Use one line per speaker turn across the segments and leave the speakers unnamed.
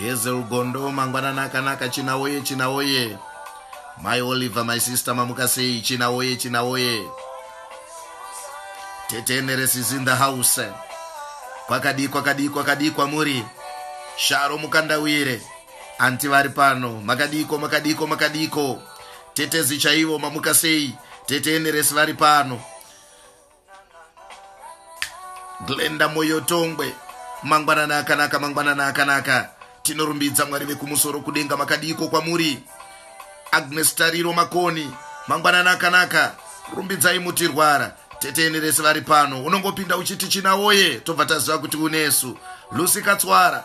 hezel gondo mangwanana akanaka china woye china woye mai oliver my sister mamuka sei china woye china woye tete eneres is in the house kwakadii kwakadii kwakadii kwamuri sharo mukandawire anti vari pano makadiko makadiko makadiko tetezi chaivo mamuka sei tete eneres vari pano glenda moyotongwe mangwanana akanaka mangwanana akanaka tinorumbidza mwari vekumusoro kudenga makadiiko kwamuri agnes tariro makoni mangwanana akanaka rumbidzai mutirwara teteni rese vari pano unongopinda uchiti china woye tobva taziva kuti unesu lusi katswara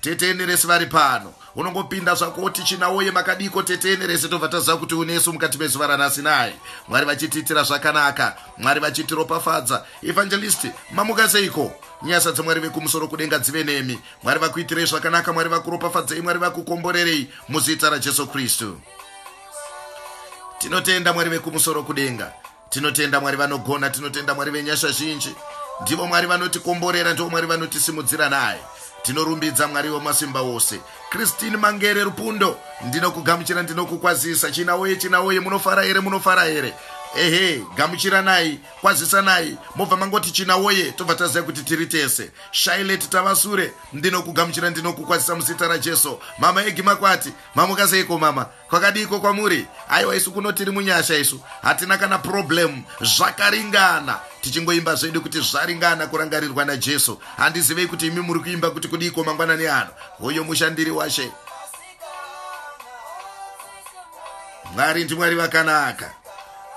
Tete Eneresi vari pano. Unongopinda zvako woti china woye makadiko Tete Eneresi tobva taziva kuti unesu mukati mezuva ranhasi naye. Mwari vachitiitira zvakanaka. Mwari vachitiropafadza. Evangelist, mamuka seiko? Nyasa dzaMwari vekumusoro kudenga dzive nemi. Mwari vakuitirei zvakanaka, Mwari vakuropafadzei, Mwari vakukomborerei muzita raJesu Kristu. Tinotenda Mwari vekumusoro kudenga. tinotenda mwari vanogona tinotenda mwari venyasha zhinji ndivo mwari vanotikomborera ndivo mwari vanotisimudzira naye tinorumbidza mwari wemasimba wose kristine mangere rupundo ndinokugamuchira ndinokukwazisa china woye china woye munofara here munofara here ehe gamuchiranai kwazisanai mobva mangoti china woye tobva taziva kuti tiri tese shailet tava sure ndinokugamuchira ndinokukwazisa muzita rajesu mama egi makwati mamukaseiko mama kwakadiiko kwamuri aiwa isu kuno tiri munyasha isu hatina kana problem zvakaringana tichingoimba zvedu kuti zvaringana kurangarirwa najesu handizivei kuti imi muri kuimba kuti kudiiko mangwanani ano hoyo mushandiri washe mwari ndimwari vakanaka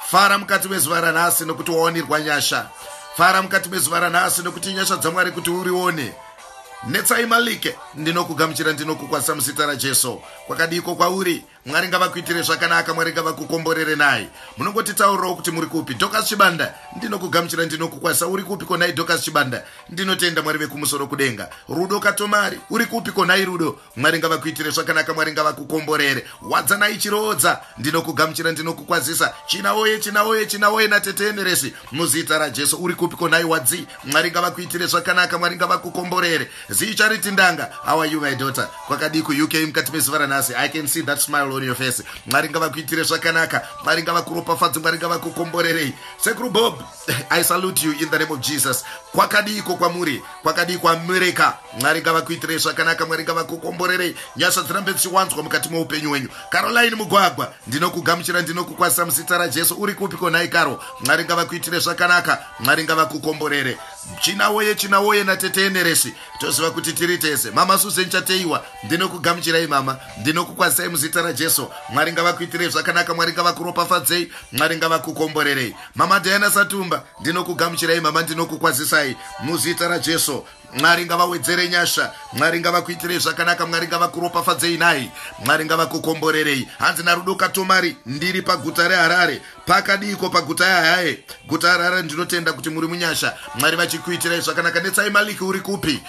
fara mukati mezuva ranhasi nokuti waonirwa nyasha fara mukati mezuva ranhasi nokuti nyasha dzamwari kuti urione netsai malike ndinokugamuchira ndinokukwanisa muzita rajesu kwakadiiko kwauri mwari ngavakuitire zvakanaka mwari ngavakukomborere naye munongotitaurirawo kuti muri kupi dokas chibanda ndinokugamuchira ndinokukwazisa uri kupi konai dokas chibanda ndinotenda mwari vekumusoro kudenga rudo katomari uri kupi konai rudo mwari ngavakuitire zvakanaka mwari ngavakukomborere wadzanai chiroodza ndinokugamuchira ndinokukwazisa china woye china woye china woye nateteemeresi muzita rajesu uri kupi konai wadzi mwari ngavakuitire zvakanaka mwari ngavakukomborere Zii Charity Ndanga, how are you my daughter? Kwakadii kuUK mukati mezuva ranhasi? I can see that smile on your face. Mwari ngavakuitire zvakanaka. Mwari ngavakuropafadze, Mwari ngavakukomborerei. Sekuru Bob, I salute you in the name of Jesus. Kwakadii ko kwamuri? Kwakadii kwaMereka? Mwari ngavakuitire zvakanaka, Mwari ngavakukomborerei. Nyasha dzirambe dzichiwanzwa mukati meupenyu hwenyu. Caroline Mugwagwa, ndinokugamuchira, ndinokukwazisa muzita raJesu. Uri kupi ko nhai Karo? Mwari ngavakuitire zvakanaka, Mwari ngavakukomborere. china woye china woye natete eneresi toziva kuti tiri tese mama suzen chateiwa ndinokugamuchirai mama ndinokukwazisai muzita rajesu mwari ngavakuitirei zvakanaka mwari ngavakuropafadzei mwari ngavakukomborerei mama diana satumba ndinokugamuchirai mama ndinokukwazisai muzita rajesu mwari ngavawedzere nyasha mwari ngavakuitirei zvakanaka mwari ngavakuropafadzei nhai mwari ngavakukomborerei hanzi narudo katomari ndiri paguta reharare pakadiiko paguta yahaye guta harare ndinotenda kuti muri munyasha mwari vachikuitirai zvakanaka netsai maliki uri kupi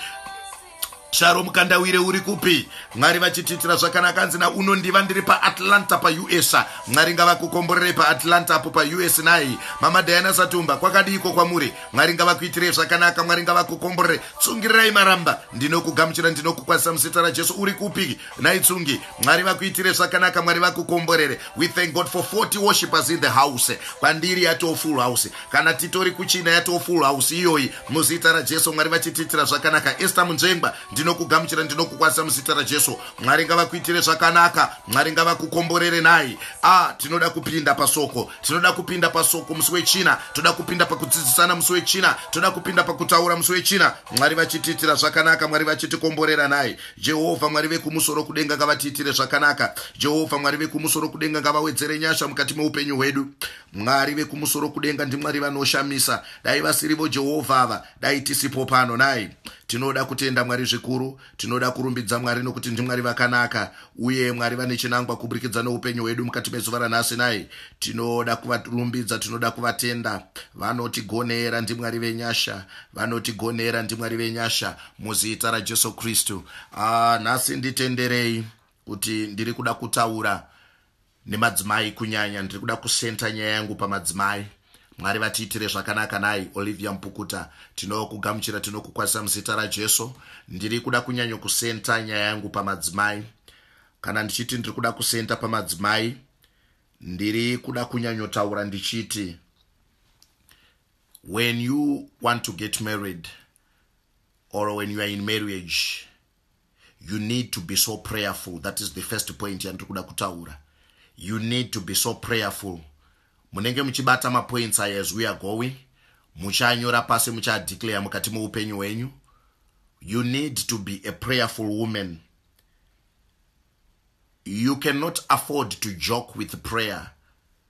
sharo mukandawire uri kupi mwari vachitiitira zvakanaka anzi na unondiva ndiri paatlanta pausa mwari ngavakukomborerei paatlanta apo paus nai mama diana satumba kwakadiiko kwamuri mwari ngavakuitirei zvakanaka mwari ngavakukomborerei tsungirirai maramba ndinokugamuchira ndinokukwanisa muzita rajesu uri kupi Nhai Tsungi, Mwari vakuitire zvakanaka, Mwari vakukomborere. We thank God for 40 worshipers in the house. Kwandiri yatoo full house. Kana titori kuchina yatoo full house iyoyi. Muzita raJesu Mwari vachitiitira zvakanaka. Esther Munzvengwa, ndinokugamuchira ndinokukwanisa muzita raJesu. Mwari ngavakuitire zvakanaka. Mwari ngavakukomborere nhai. Ah, tinoda kupinda pasoko. Tinoda kupinda pasoko musi wechina. Toda kupinda pakudzidzisana musi wechina. Toda kupinda pakutaura musi wechina. Mwari vachitiitira zvakanaka, Mwari vachitikomborera nhai. Jehovha Mwari vekumusoro kudenga ngavatiitire zvakanaka. Jehovha Mwari vekumusoro kudenga ngavawedzere nyasha mukati meupenyu hwedu. Mwari vekumusoro kudenga ndiMwari vanoshamisa. Dai vasirivo Jehovha ava, dai tisipo pano nai. Tinoda kutenda Mwari zvikuru, tinoda kurumbidza Mwari nokuti ndiMwari vakanaka, uye Mwari vane chinangwa kuburikidza neupenyu hwedu mukati mezuva ranhasi nai. Tinoda kuvarumbidza, tinoda kuvatenda. Vanotigonera ndiMwari venyasha, vanotigonera ndiMwari venyasha. muzita rajesu kristu ah, nhasi nditenderei kuti ndiri kuda kutaura nemadzimai kunyanya ndiri kuda kusenta nyaya yangu pamadzimai mwari vatiitire zvakanaka nai olivia mpukuta tinokugamuchira tinokukwazisa muzita rajesu ndiri kuda kunyanyo kusenta nyaya yangu pamadzimai kana ndichiti ndiri kuda kusenta pamadzimai ndiri kuda kunyanyotaura ndichiti when you want to get married or when you are in marriage you need to be so prayerful that is the first point yandiri kuda kutaura you need to be so prayerful munenge muchibata mapoints aya as we are going muchanyora pasi muchadeclare mukati meupenyu hwenyu you need to be a prayerful woman you cannot afford to joke with prayer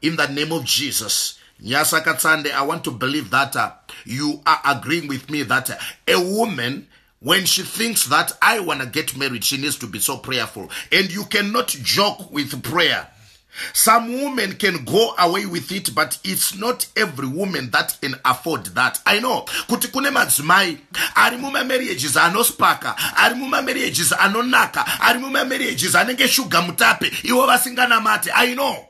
In the name of Jesus. Nyasa Katsande, I want to believe that uh, you are agreeing with me that uh, a woman, when she thinks that I want to get married, she needs to be so prayerful. And you cannot joke with prayer. Some women can go away with it, but it's not every woman that can afford that. I know. Kuti kune madzimai ari muma marriages anospaka, ari muma marriages anonaka, ari muma marriages anenge sugar mutape, iwo vasinganamate. I know.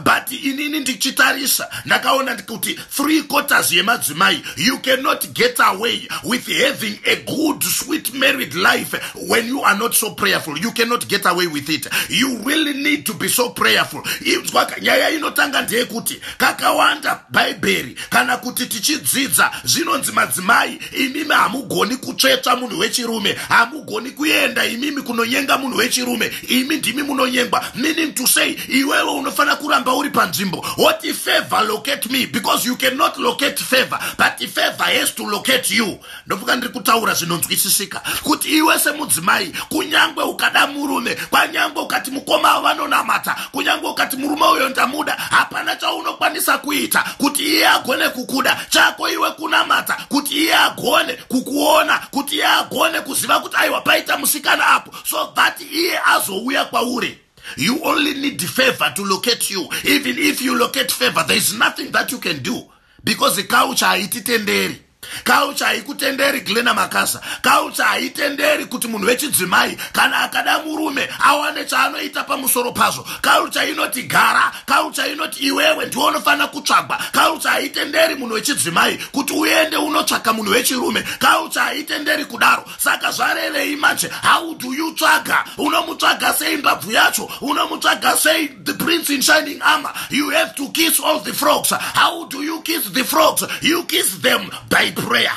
but inini ndichitarisa ndakaona kuti three quarters yemadzimai you cannot get away with having a good sweet married life when you are not so prayerful you cannot get away with it you really need to be so prayerful inzwaka nyaya inotanga ndeyekuti kakawanda bhaibheri kana kuti tichidzidza zvinonzi madzimai imimi hamugoni kutsvetsva munhu wechirume hamugoni kuenda imimi kunonyenga munhu wechirume imi ndimi munonyengwa meaning to say iwewe unofanira kuramba uri panzvimbo woti favor locate me because you cannot locate favor but favor has to locate you ndofunga ndiri kutaura zvinonzwisisika kuti iwe semudzimai kunyange ukada murume kwanyange ukati mukoma avo vanonamata kunyange ukati murume uyo ndamuda hapana chaunokwanisa kuita kuti iye agone kukuda chako iwe kunamata kuti iye agone kukuona kuti iye agone kuziva kuti aiwa paita musikana apo so that iye azouya kwauri you only need favor to locate you even if you locate favor there is nothing that you can do because culture haititenderi culture haikutenderi glena makasa culture haitenderi kuti munhu wechidzimai kana akada murume awane chaanoita pamusoro pazvo culture inoti gara culture inoti iwewe ndiwo unofanira kutsvagwa culture haitenderi munhu wechidzimai kuti uende unotsvaga munhu wechirume culture haitenderi kudaro saka zvarevei manje how do you tsvaga unomutsvaga sei mbabvu yacho unomutsvaga sei the prince in shining armor you have to kiss all the frogs how do you kiss the frogs you kiss them by prayer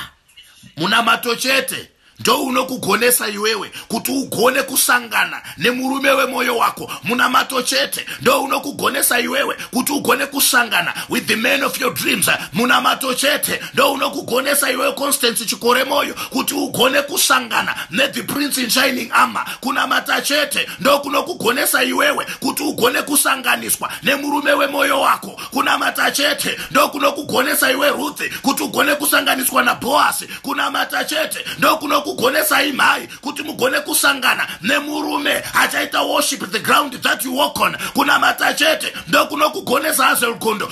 munamato chete ndounokugonesa iwewe kuti ugone kusangana nemurume wemwoyo wako munamato chete ndounokugonesa iwewe kuti ugone kusangana with the man of your dreams munamato chete ndounokugonesa iwewe constance chikore moyo kuti ugone kusangana nethe prince in shining armor kunamata chete ndokunokugonesa iwewe kuti ugone kusanganiswa nemurume wemwoyo wako kunamata chete ndokunokugonesa iwe ruthi kuti ugone kusanganiswa nabhoasi kunamata chete ndokunokugonesa imhai kuti mugone kusangana nemurume achaita worship the ground that you walk on kunamata chete ndokunokugonesa azelgondo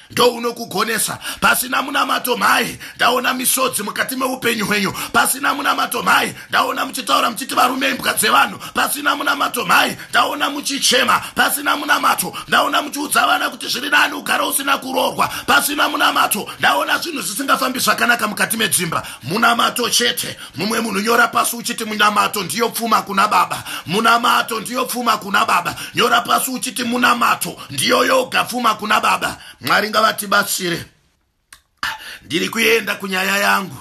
ndounokugonesa pasina munamato mhai ndaona misodzi mukati meupenyu hwenyu pasina munamato mhai ndaona muchitaura muchiti varume imbwa dzevanhu pasina munamato mhai ndaona muchichema pasina munamato ndaona muchiudza vana kuti zviri nani ugara usina kuroorwa pasina munamato ndaona zvinhu zvisingafambi zvakanaka mukati medzimba munamato chete mumwe munhu nyora pasi uchiti munamato ndiyo pfuma kuna baba munamato ndiyo pfuma kuna baba nyora pasi uchiti munamato ndiyo yoga pfuma kuna baba mwari ngavatibatsire ndiri kuenda kunyaya yangu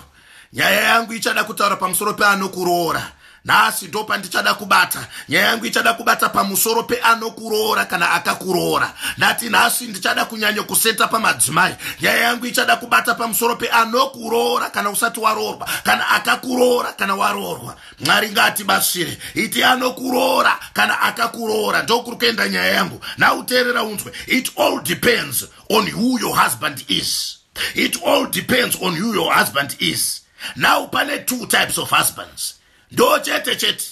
nyaya yangu ichada kutaura pamusoro peanokuroora nhasi ndo pandichada kubata nyaya yangu ichada kubata pamusoro peanokuroora kana akakuroora ndati nhasi ndichada kunyanyo kuseta pamadzimai nyaya yangu ichada kubata pamusoro peanokuroora kana usati waroorwa kana akakuroora kana waroorwa mwari ngaatibatsire iti anokuroora kana akakuroora ndokuri kuenda nyaya yangu nauteerera unzwe it all depends on who your husband is it all depends on who your husband is now pane two types of husbands ndo chete chete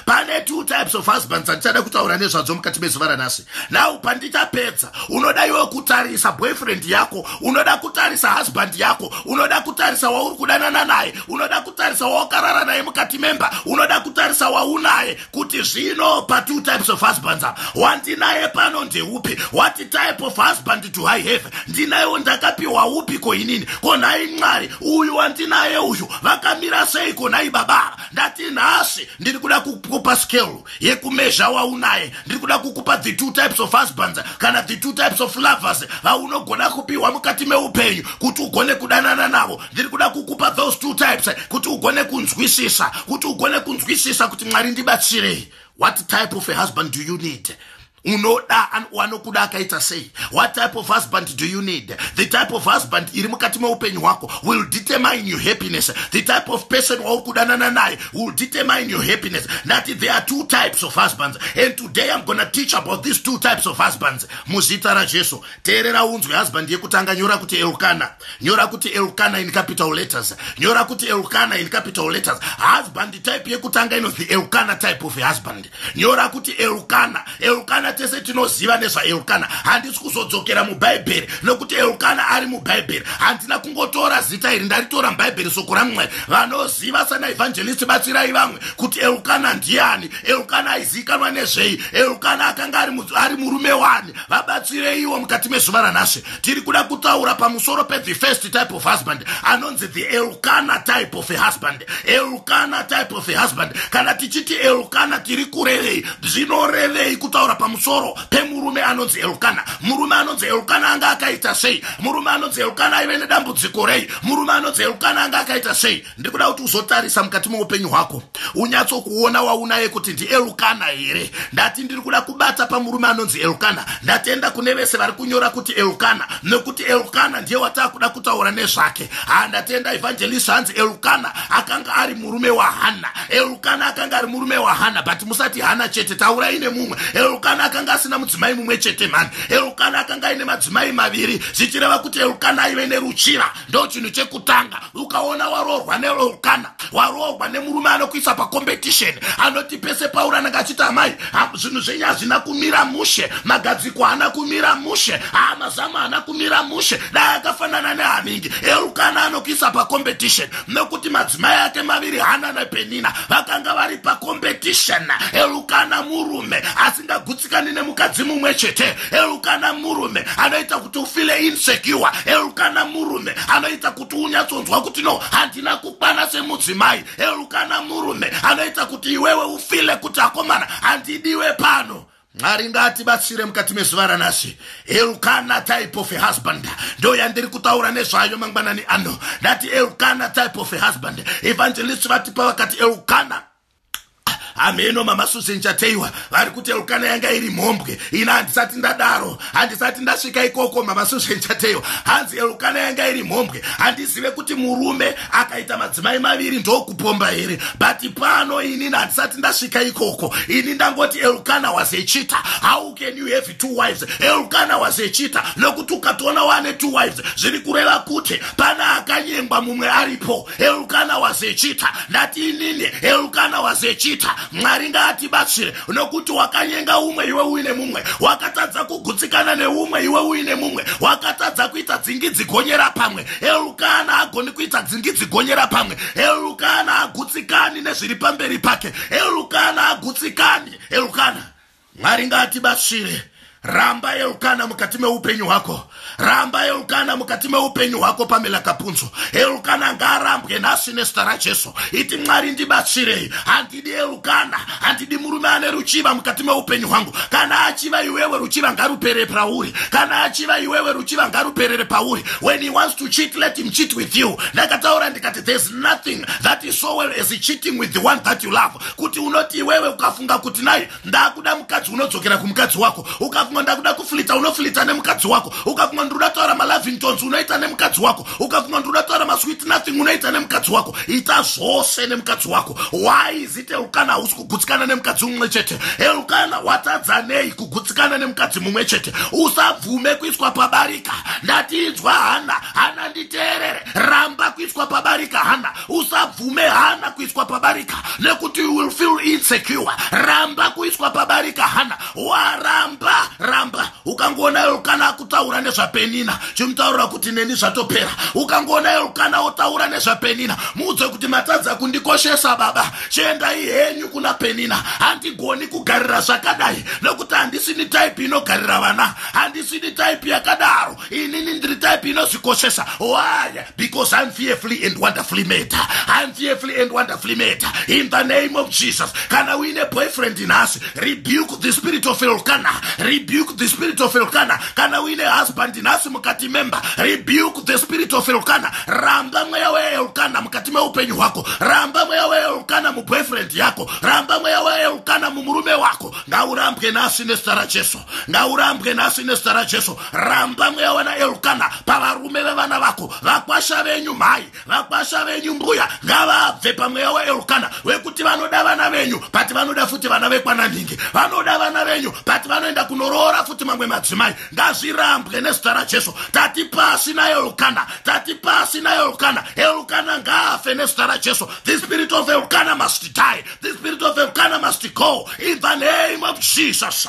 pane two types of husbands andichada kutaura nezvadzo mukati mezuva ranhasi now pandichapedza unoda iwe kutarisa boyfriend yako unoda kutarisa husband yako unoda kutarisa wauri kudanana naye unoda kutarisa wawakarara naye mukati memba unoda kutarisa waunaye kuti zvino patwo types of husbands apa wandinaye pano ndeupi what type of husband to high have ndinayewo ndakapiwa upi ko inini ko nhai mwari uyu wandinaye uyu vakamira sei ko nhai baba ndati nhasi ndiri kuda kukupa skelu yekumezha waunaye ndiri kuda kukupa the two types of husbands kana the two types of lovers vaunogona kupiwa mukati meupenyu kuti ugone kudanana navo ndiri kuda kukupa those two types kuti ugone kunzwisisa kuti ugone kunzwisisa kuti mwari ndibatsirei what type of a husband do you need unoda wanokuda akaita sei what type of husband do you need the type of husband iri mukati meupenyu hwako will determine your happiness the type of person wauri kudanana naye will determine your happiness nati there are two types of husbands and today i'm gonna teach about these two types of husbands muzita rajesu teerera unzwe husband yekutanga nyora kuti elkana nyora kuti elkana in capital letters nyora kuti elkana in capital letters husband type yekutanga inonzi elkana type of husband nyora kuti elukana elukana tese tinoziva nezvaelukana handisi kuzodzokera mubhaibheri nokuti elukana ari mubhaibheri handina kungotora zita iri ndaritora mubhaibheri soko ramwari vanoziva sana evhanjelisti batsirai vamwe kuti elukana ndiani elukana aizivikanwa nezvei elukana akanga ari murume wani vabatsireiwo mukati mezuva ranhasve tiri kuda kutaura pamusoro pethe first type of husband anonzi the elkana type of a husband elkana type of a husband kana tichiti elkana tiri kurevei zvinorevei kutaura pamusoro pemurume anonzi elkana murume anonzi elkana anga akaita sei murume anonzi elkana aive nedambudziko rei murume anonzi elkana anga akaita sei ndiri kuda kuti uzotarisa mukati meupenyu hwako unyatsokuona waunaye kuti ndielukana here ndati ndiri kuda kubata pamurume anonzi elukana ndatenda kune vese vari kunyora kuti elukana nekuti elukana ndiye wataa kuda kutaura nezvake ha ndatenda evangelist hanzi elukana akanga ari murume wahanna elukana akanga ari murume wahanna but musati hana chete taurai nemumwe elukana akanga asina mudzimai mumwe chete mhani elukana akanga aine madzimai maviri zvichireva kuti elukana aive neruchiva ndo chinhu chekutanga ukaona waroorwa nelokana waroorwa nemurume anokuisa pacompetition anoti pese pauri anenge achiti amai zvinhu zvenyu hazvina kumira mushe magadziko haana kumira mushe haa mazamu haana kumira mushe dai akafanana nehaningi elukana anokuisa pacompetition nekuti madzimai ake maviri hana nepenina vakanga vari pacompetition elukana murume asingagutsikani nemukadzi mumwe chete Elukana murume anoita kuti ufile insecure. Elukana murume anoita kuti unyatsonzwa kuti no handina kukwana semudzimai. Elukana murume anoita kuti iwewe ufile kuti akomana handidiwe pano mwari ngaatibatsire mukati mezuva ranasi elkana type of husband ndo yandiri kutaura nezvayo mangwanani ano ndati elkana type of husband evangelist vatipa vakati elkana hameno mama susan chateiwa vari kuti elkana yanga iri mhombwe ina handisati ndadaro handisati ndasvika ikoko mama susan chateiwa hanzi elkana yanga iri mhombwe handizive kuti murume akaita madzimai maviri ndokupomba here but pano ini handisati ndasvika ikoko ini ndangoti elkana was echita how can you have two wives elkana was echita nokuti ukatoona wane two wives zviri kureva kuti pana akanyengwa mumwe aripo Elkana was a cheater. Ndati inini Elkana was a cheater. Mwari ngaatibatsire nokuti wakanyenga umwe iwe uine mumwe. Wakatadza kugutsikana neumwe iwe uine mumwe. Wakatadza kuita dzingidzi gonyera pamwe. Elkana agoni kuita dzingidzi gonyera pamwe. Elkana agutsikani nezviri pamberi pake. Elkana agutsikani. Elkana. Mwari ngaatibatsire. Ramba Elkana mukati meupenyu hwako. Ramba Elkana mukati meupenyu hwako Pamela Kapunzo. Elkana ngaarambwe nhasi nezita raJesu. Iti Mwari ndibatsirei. Handidi Elkana, handidi murume ane ruchiva mukati meupenyu hwangu. Kana achiva iwewe ruchiva ngaruperere pauri. Kana achiva iwewe ruchiva ngaruperere pauri. When he wants to cheat let him cheat with you. Ndakataura ndikati there's nothing that is so well as cheating with the one that you love. kuti unoti iwewe ukafunga kuti nai ndakuda mukadzi unodzokera kumukadzi wako ukafunga ndakuda kuflita unoflita nemukadzi wako ukafunga ndikuda taura malavingtons unoita nemukadzi wako ukafunga ndikuda taura masweet nothing unoita nemukadzi wako ita zvose nemukadzi wako why is it eukana hausi kugutsikana nemukadzi mumwe chete eukana watadzanei kugutsikana nemukadzi mumwe chete usabvume kuiswa pabarika ndatiinzwa hana hana nditeerere ramba kuiswa pabarika hana usabvume hana kuiswa pabarika nekuti you will feel insecure ramba kuiswa pabarika hana waramba ramba ukangoona elkana akutaura nezvapenina chimutaurira kuti neni zvatopera ukangoona elkana otaura nezvapenina muudze kuti matadza kundikoshesa baba chiendai henyu kuna penina handigoni kugarira zvakadai nekuti handisini type inogarira vana handisini type yakadaro inini ndiri type inozvikoshesa why because i'm fearfully and wonderfully made i'm fearfully and wonderfully made in the name of jesus kana uine boyfriend nhasi rebuke the spirit of elkana rebuke the spirit of elkana kana uine husband nhasi mukati memba rebuke the spirit of elkana ramba mweya weelkana mukati meupenyu hwako ramba mweya weelkana muboyfriend yako ramba mweya weelkana mumurume wako ngaurambwe nhasi nezita rajesu ngaurambwe nhasi nezita rajesu ramba mweya wana elukana pavarume vevana vako vakwasha venyu mhai vakwasha venyu mbuya ngavabve pamweya waelukana wekuti vanoda vana venyu pati vanoda futi vana vekwananhingi vanoda vana venyu pati vanoenda kunoroora futi mamwe madzimai ngazvirambwe nezita rajesu tati pasi naelukana tati pasi naelukana elukana ngaafe nezita rajesu the spirit of elukana must die the spirit of elukana must go in the name of jesus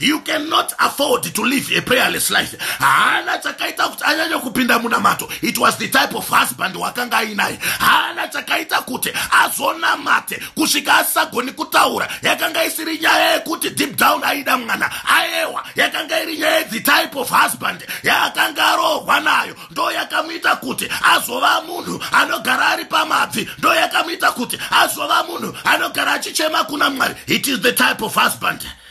you cannot afford to live a prayerless life haana chakaita kuti anyanye kupinda munamato it was the type of husband wakanga ainaye haana chakaita kuti azonamate kusvika asagoni kutaura yakanga isiri nyaya yekuti deep down aida mwana aewa yakanga iri nyaya yethe type of husband yaakanga arohwa nayo ndo yakamuita kuti azova munhu anogara ari pamabvi ndo yakamuita kuti azova munhu anogara achichema kuna mwari it is the type of husband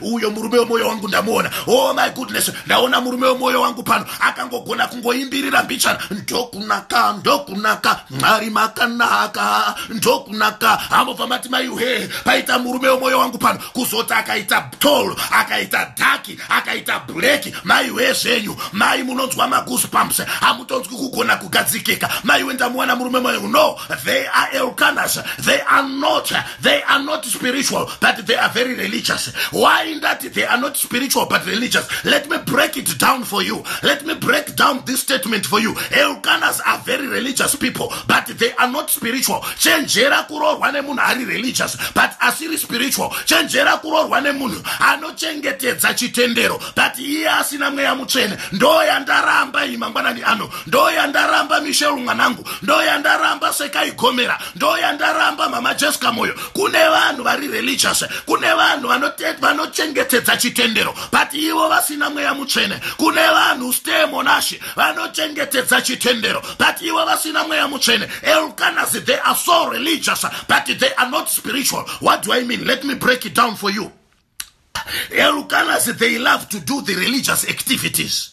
uyo murume wemwoyo wangu ndamuona oh my goodness ndaona murume wemwoyo wangu pano akangogona kungoimbirira mbichana ndokunaka ndokunaka mwari makanaka ndokunaka amobva mati maiuhe paita murume wemwoyo wangu pano kuzoti akaita tol akaita dhaki akaita bleki maiwe zvenyu mai munonzwa magus pumps hamutonzwi kugona kugadzikika maiwe ndamuwana murume mwoyo no they are elcanas they are not they are not spiritual but they are very religious why that they are not spiritual but religious let me break it down for you let me break down this statement for you eucanas are very religious people but they are not spiritual chenjera kuroorwa nemunhu ari religious but asiri spiritual chenjera kuroorwa nemunhu anochengetedza chitendero but iye asina mweya mutsvene ndoyandaramba iyi mangwanani ano ndoyandaramba mishel mwanangu ndoyandaramba sekaikomera ndoyandaramba mama jesca moyo kune vanhu vari religious kune vanhu vanochengetedza chitendero but ivo vasina mweya mutsvene kune vanhu ste monashi vanochengetedza chitendero but ivo vasina mweya mutsvene elkanas they are so religious but they are not spiritual what do i mean let me break it down for you elkanas they love to do the religious activities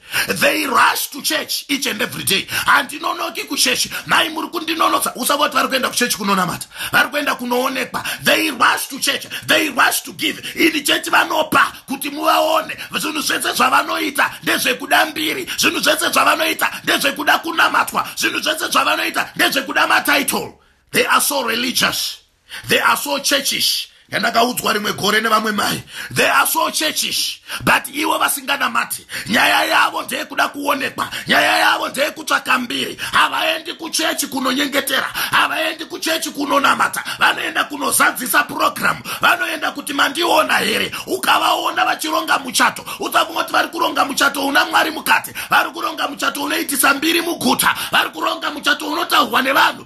they rush to church each and every day handinonoki kuchechi mai muri kundinonotsa usava kuti vari kuenda kuchechi kunonamata vari kuenda kunoonekwa they rush to church they rush to give ini chechi vanopa kuti muvaone zvinhu zvese zvavanoita ndezvekuda mbiri zvinhu zvese zvavanoita ndezvekuda kunamatwa zvinhu zvese zvavanoita ndezvekuda matitle they are so religious they are so churchish yandakaudzwa rimwe gore nevamwe mai they are so churchish but ivo vasinganamati nyaya yavo ndeyekuda kuonekwa nyaya yavo ndeyekutsvaka mbiri havaendi kuchechi kunonyengetera havaendi kuchechi kunonamata vanoenda kunozadzisa purogiramu vanoenda kuti mandiona here ukavaona vachironga muchato usafunga kuti vari kuronga muchato una mwari mukati vari kuronga muchato unoitisa mbiri muguta vari kuronga muchato unotaurwa nevanhu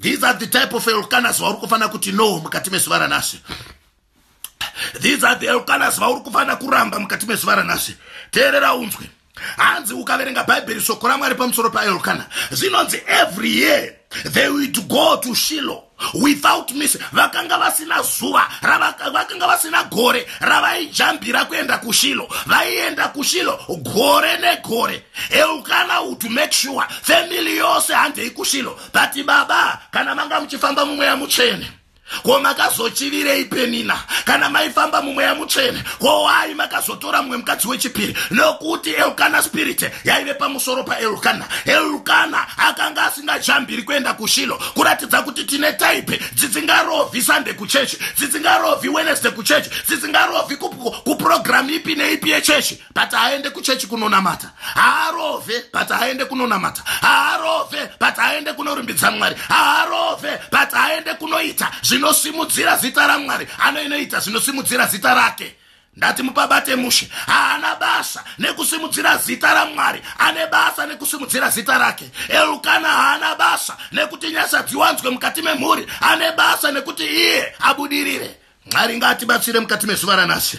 these are the type of elkanas vauri kufanira kuti no mukati mezuva ranhasi these are the elkanas vauri kufanira kuramba mukati mezuva ranhasi teerera unzwe hanzi ukaverenga bhaibheri shoko ramwari pamusoro paelkana zvinonzi every year they would go to shilo without miss vakanga vasina zuva vakanga vasina gore ravaijambira kuenda kushilo vaienda kushilo gore negore eukana uto make sure family yose handei kushilo but baba kana manga muchifamba mumweya mutsvene ko makazochivirei penina kana maifamba mumweya mutsvene ko wai makazotora mumwe mukadzi wechipiri nokuti elkana spirite yaive pamusoro paelkana elkana akanga asingajambiri kuenda kushilo kuratidza kuti tine taipe dzisingarovhi sande kuchechi dzisingarovhi wenesde kuchechi dzisingarovhi kupurogiramu ipi neipi yechechi but aende kuchechi kunonamata haarove but aende kunonamata haarove but aende kunorumbidza mwari haarove but aende kunoita zvinosimudzira zita ramwari anoinoita zvinosimudzira zita rake ndati mupabate mushe haana basa nekusimudzira zita ramwari ane basa nekusimudzira zita rake elukana haana basa nekuti nyasha dziwanzwe mukati memhuri ane basa nekuti iye abudirire mwari ngaatibatsire mukati mezuva ranashe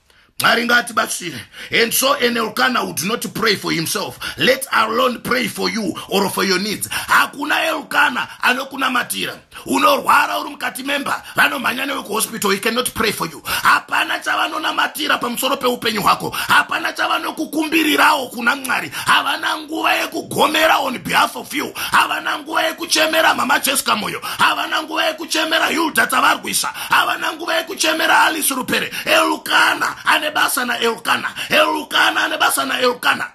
mwari ngaatibatsire and so an elkana would not pray for himself let alone pray for you or for your needs hakuna elkana anokunamatira unorwara uri mukati memba vanomhanya newe kuhospital he cannot pray for you hapana chavanonamatira pamusoro peupenyu hwako hapana chavanokukumbirirawo kuna mwari havana nguva yekugomera on behalf of you havana nguva yekuchemera mama cheska moyo havana nguva yekuchemera hilda tavarwisa havana nguva yekuchemera alice rupere elukana ane basa naelukana elukana ane basa naelukana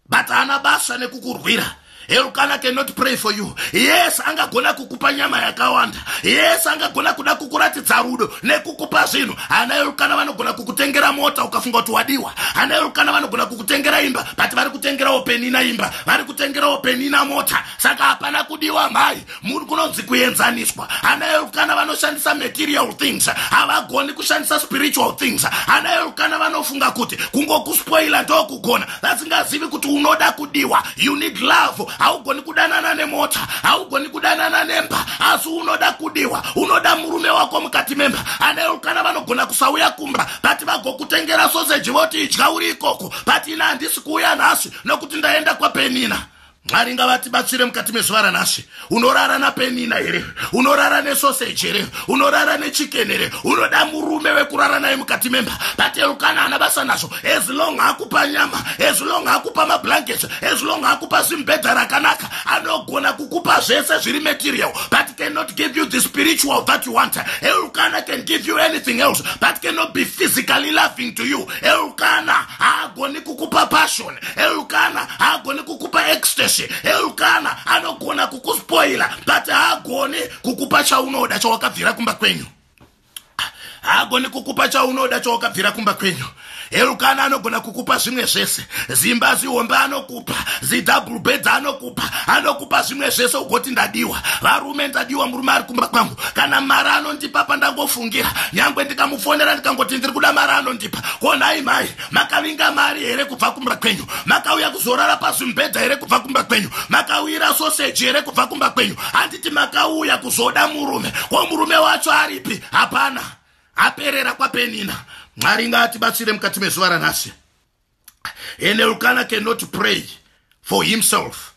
but haana basa nekukurwira elukana cannot pray for you yes angagona kukupa nyama yakawanda yes angagona kuda kukuratidza rudo nekukupa zvinhu hana elukana vanogona kukutengera mota ukafunga kuti wadiwa hana elukana vanogona kukutengera imba but vari kutengerawo penina imba vari kutengerawo penina mota saka hapana kudiwa mhai munhu kunonzi kuenzaniswa hana yerukana vanoshandisa material things havagoni kushandisa spiritual things hana yerukana vanofunga kuti kungokuspoila ndokugona vasingazivi kuti unoda kudiwa you need love haugoni kudanana nemota haugoni kudanana nemba asi unoda kudiwa unoda murume wako mukati memba hana yerukana vanogona kusauya kumba bati vagokutengera soseji voti idya uri ikoko bati ina handisi kuuya nhasi nokuti ndaenda kwapenina mwari ngavatibatsire mukati mezuva ranhasi unorara napenina here unorara nesoseji here unorara nechikeni here unoda murume wekurara naye mukati memba patelukana ana basa nazvo as long akupa nyama as long akupa mablankets as long akupa zimbedha rakanaka anogona kukupa zvese zviri material but cannot give you the spiritual that you want elukana can give you anything else but cannot be physically loving to you elukana haagoni kukupa passion elukana haagoni kukupa ecstacy elukana anogona kukuspoila but haagoni kukupa chaunoda chawakabvira kumba kwenyu haagoni kukupa chaunoda chawakabvira kumba kwenyu elukana anogona kukupa zvimwe zvese zimba zihombe anokupa zidouble beds anokupa anokupa zvimwe zvese ugoti ndadiwa varume ndadiwa murume ari kumba kwangu kana mari anondipa pandangofungira nyange ndikamufonera ndikangoti ndiri kuda mari anondipa ko nhai mhai makavinga mari here kubva kumba kwenyu makauya kuzorara pasi mubhedha here kubva kumba kwenyu makawira soseji here kubva kumba kwenyu handiti makauya kuzoda murume ko murume wacho aripi hapana aperera kwapenina mwari ngaatibatsire mukati mezuva ranhasi and elkana cannot pray for himself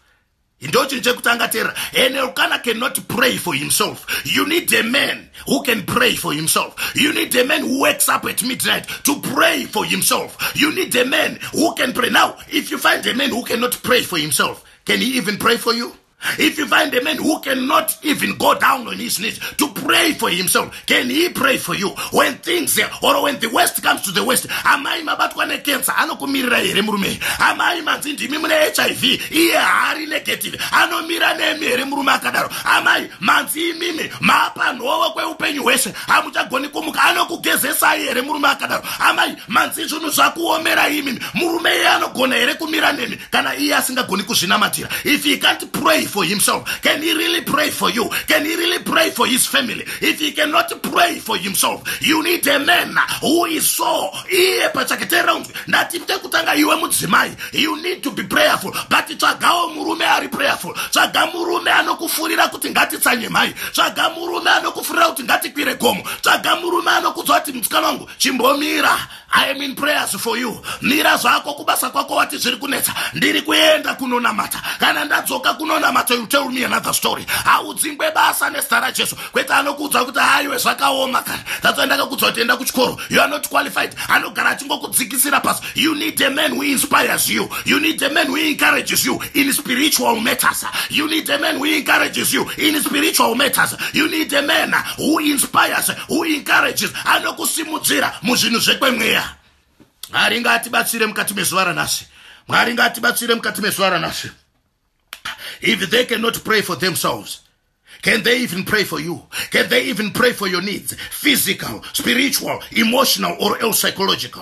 ndochinhu chekutanga tera an elkana cannot pray for himself you need a man who can pray for himself you need a man who wakes up at midnight to pray for himself you need a man who can pray now if you find a man who cannot pray for himself can he even pray for you if you find a man who cannot even go down on his knees to pray for himself can he pray for you when things or when the west comes to the west amai mabatwa nekensa anokumirirai here murume amai manzi ndimi mune hiv iye haari negative anomira nemi here murume akadaro amai manzi imimi mapa nhovo kweupenyu hwese hamuchagoni kumuka anokugezesai here murume akadaro amai manzi zvunhu zvakuomera imi murume iye anogona here kumira nemi kana iye asingagoni kuzvinamatira if he can't pray for himself can he really pray for you can he really pray for his family if he cannot pray for himself you need a man who is so iye pachake teera unzwi ndati tekutanga iwe mudzimai you need to be prayerful but tsvagawo murume ari prayerful tsvaga murume anokufurira kuti ngatitsanye mhai tsvaga murume anokufurira kuti ngatikwire gomo tsvaga murume anokudzwa kuti musikana wangu chimbomira i am in prayers for you mira zvako kubasa kwako wati zviri kunetsa ndiri kuenda kunonamata kana ndadzoka kunonamata you tell me another story haudzingwe basa nezita rajesu kwete anokuudza kuti haiwe zvakaoma kana tatsoa ndakakuudza kuti enda kuchikoro you are not qualified anogara achingokudzikisira pasi you need a man who inspires you you need a man who encourages you in spiritual matters you need a man who encourages you in spiritual matters you need a man who inspires who encourages anokusimudzira muzvinhu zvekwemweya mwari ngaatibatsire mukati mezuva ranhasi mwari ngaatibatsire mukati mezuva ranhasi if they cannot pray for themselves Can they even pray for you? Can they even pray for your needs? Physical, spiritual, emotional, or else psychological?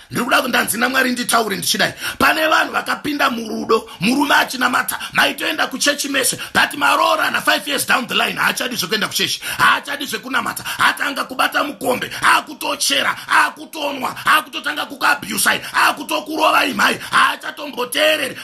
ndiri kuda kundanzi namwari nditaure ndichidai pane vanhu vakapinda murudo murume achinamata maitoenda kuchechi mese but maroorana 5 years down the line haachadi zvekuenda kuchechi haachadi zvekunamata atanga kubata mukombe akutochera akutonwa akutotanga kukuabusai akutokurovai mhai haachatomboteereri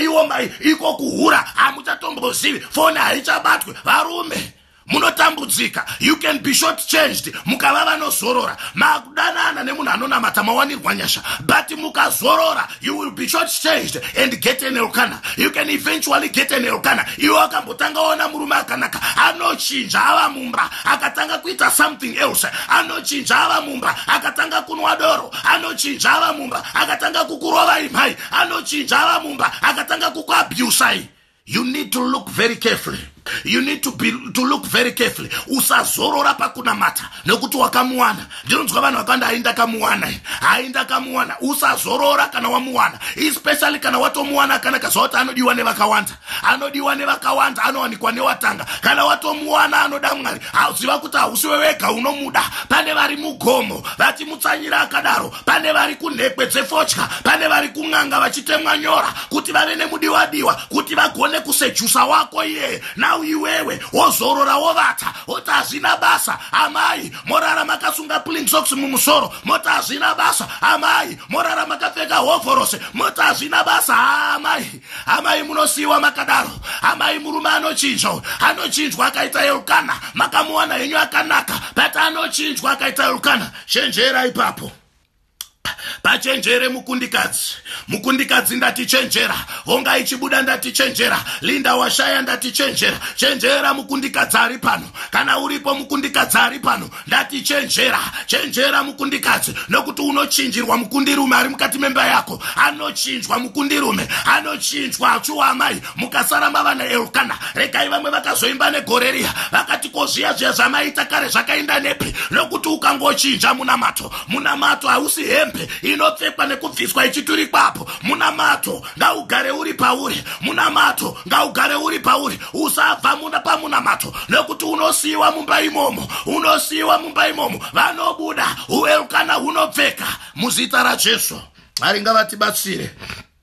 iwo mai iko kuhura hamuchatombozivi foni haichabatwe varume munotambudzika you can be short changed mukava vanozorora makudanana nemunhu anonamata mawanirwa nyasha but mukazorora you will be short changed and get an elkana you can eventually get an elkana iwe akambotanga ona murume akanaka anochinja ava mumba akatanga kuita something else anochinja ava mumba akatanga kunwa doro anochinja ava mumba akatanga kukurovai mhai anochinja ava mumba akatanga kukuabusai you need to look very carefully you need to, be, to look very carefully usazorora pakunamata nekuti wakamuwana ndinonzwa vanhu vakawanda hai ndakamuwana hai ndakamuwana usazorora kana wamuwana especially kana watomuwana akanaka zvakuti anodiwa nevakawanda anodiwa nevakawanda anowanikwa newatanga kana watomuwana anoda mwari hauziva kuti hausiwe wega unomuda pane vari mugomo vachimutsanyira akadaro pane vari kunhekwe dzefotya pane vari kun'anga vachitemwa nyora kuti vave nemudiwadiwa kuti vagone kusejusa wako iyeye nau iwewe wozorora wovata woti hazvina basa amai morara makasunga plingsox mumusoro moti hazvina basa amai morara makapfeka hovhorose moti hazvina basa amai amai munosiyiwa makadaro amai murume anochinjwa anochinjwa akaita elkana makamuwana henyu akanaka but anochinjwa akaita elkana chenjera ipapo pachenjere mukundikadzi mukundikadzi ndatichenjera honga ichibuda ndatichenjera linda washaya ndatichenjera chenjera mukundikadzi ari pano kana uripo mukundikadzi ari pano ndatichenjera chenjera mukundikadzi nokuti unochinjirwa mukundirume ari mukati memba yako anochinjwa mukundirume anochinjwa achuwa amai mukasara mava naelkana regai vamwe vakazoimba negore riya vakati ko zviya zviya zvamaita kare zvakainda nepi nokuti ukangochinja munamato munamato hausi hembe inopfekwa nekubviswa ichiturikwapo munamato ngaugare uri pauri munamato ngaugare uri pauri usabva muna pamunamato nokuti unosiyiwa mumba imomo unosiyiwa mumba imomo vanobuda uelkana hunopfeka muzita rajesu mwari ngavatibatsire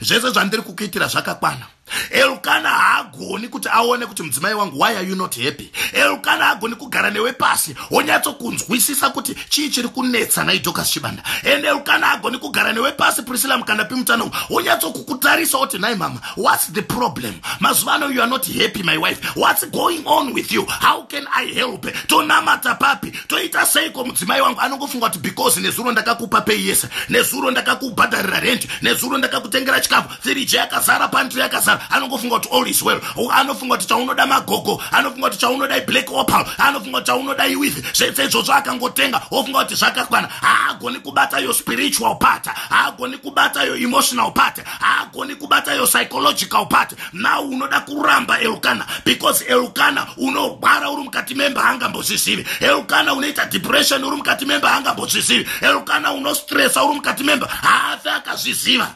zvese zvandiri kukuitira zvakakwana elukana haagoni kuti aone kuti mudzimai wangu why are you not happy elukana haagoni kugara newe pasi wonyatsokunzwisisa kuti chii chiri kunetsa naidokas chibanda ende elukana haagoni kugara newe pasi priscilla mukanda pimutano wonyatsokukutarisa oti nhai mama whats the problem mazuva ano you are not happy my wife whats going on with you how can i help tonamata papi toita seiko mudzimai wangu anongofunga kuti because nezuro ndakakupa pei yese nezuro ndakakubhadharira rendi nezuro ndakakutengera chikafu firiji yakazara pantri yakazara anongofunga kuti all is well anofunga kuti chaunoda magogo anofunga kuti chaunoda iblack opal anofunga kuti chaunoda iwithi zvese izvozvo akangotenga ofunga kuti zvakakwana haagoni kubata yo spiritual part haagoni kubata yo emotional part haagoni kubata your psychological part now unoda kuramba elukana because elukana unogwara uri mukati memba haangambozvizivi elukana unoita depression uri mukati memba haangambozvizivi elukana unostressa uri mukati memba haafi akazviziva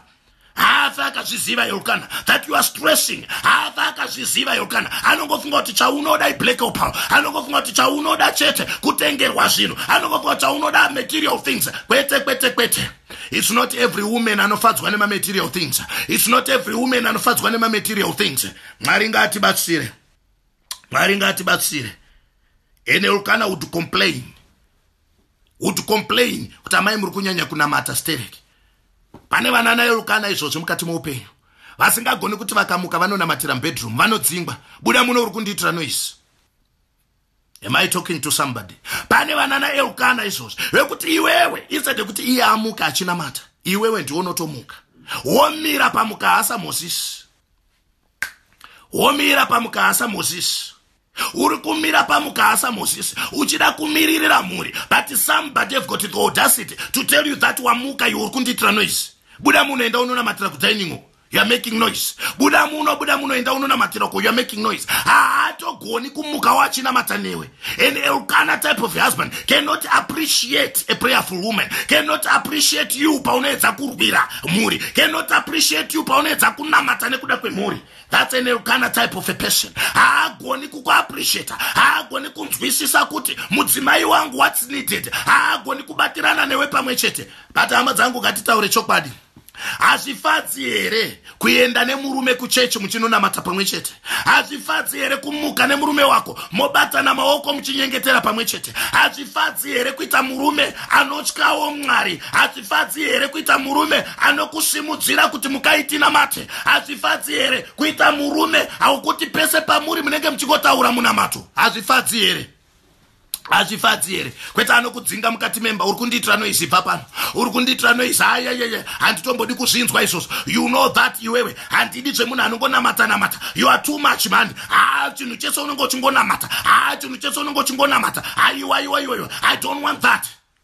haafi akazviziva elukana that you are stressing haafi akazviziva elukana anongofunga kuti chaunoda iblack opal anongofunga kuti chaunoda chete kutengerwa zvinhu anongofunga kuti chaunoda material things kwete kwete kwete It's not every woman anofadzwa nema material things. It's not every woman anofadzwa nema material things. Mwari ngatibatsire. Mwari ngatibatsire. Ene ulkana would complain. Would complain kuti amai muri kunyanya kunamata stereki. Pane vana naye ulkana izvozvo mukati moupenyu. Vasingagoni kuti vakamuka vanonamatira mubedroom vanodzingwa. Buda muno uri kundiitira noise. am i talking to somebody pane vanana eukana izvozvi vekuti iwewe instead yekuti iye amuka achinamata iwewe ndiwo unotomuka womira pamukahasa mozisi womira pamukahasa mozisi uri kumira pamukahasa mozisi uchida kumiririra mhuri but somebody have got the audacity to tell you that wamuka iwe uri kundiitira noise buda munhu enda unonamatira kudining hall youare making noise buda muno buda muno enda unonamatira uko youare making noise haatogoni kumukawo achinamata newe an elkana type of husband cannot appreciate a prayerful woman cannot appreciate you paunoedza kurwira mhuri cannot appreciate you paunoedza kunamata nekuda kwemhuri that's an elkana type of a person haagoni kukuappreciata haagoni kunzwisisa kuti mudzimai wangu what's needed haagoni kubatirana newe pamwe chete but hama dzangu ngatitaure chokwadi hazvifadzi here kuenda nemurume kuchechi muchinonamata pamwe chete hazvifadzi here kumuka nemurume wako mobatana maoko muchinyengetera pamwe chete hazvifadzi here kuita murume anotyawo mwari hazvifadzi here kuita murume anokusimudzira kuti mukaitinamate hazvifadzi here kuita murume haukuti pese pamuri munenge muchingotaura munamato hazvifadzi here hazvifadzi here kwete anokudzinga mukati memba uri kundiitira noisi bva pano uri kundiitira noisi ayayeye handitombodi kuzvinzwa izvozvo you know that iwewe handidi zvemunhu anongonamata namata you are too much mhani haa chinhu chese unenge uchingonamata haa chinhu chese unenge uchingonamata aiwaiwaiwaiwa i don't want that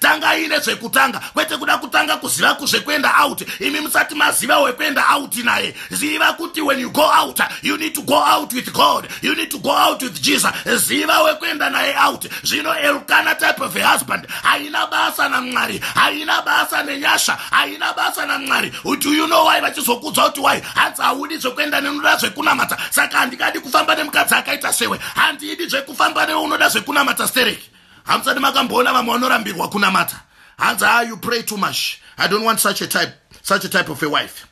tangai nezvekutanga kwete kuda kutanga kuziva kuzvekuenda out imi musati maziva wekuenda out naye ziva kuti when you go out you need to go out with god you need to go out with jesus ziva wekuenda naye out zvino elkana type of a husband haina basa namwari haina basa nenyasha haina basa namwari do you know why vachizokudzwa kuti why hanzi haudi zvekuenda nenoda zvekunamata saka handikadi kufamba nemukadzi akaita sewe handidi zvekufamba newe unoda zvekunamata stereki hamusati makamboona vamwe vanorambirwa kunamata hanzi ha ah, you pray too much i don't want such a type, such a type of a wife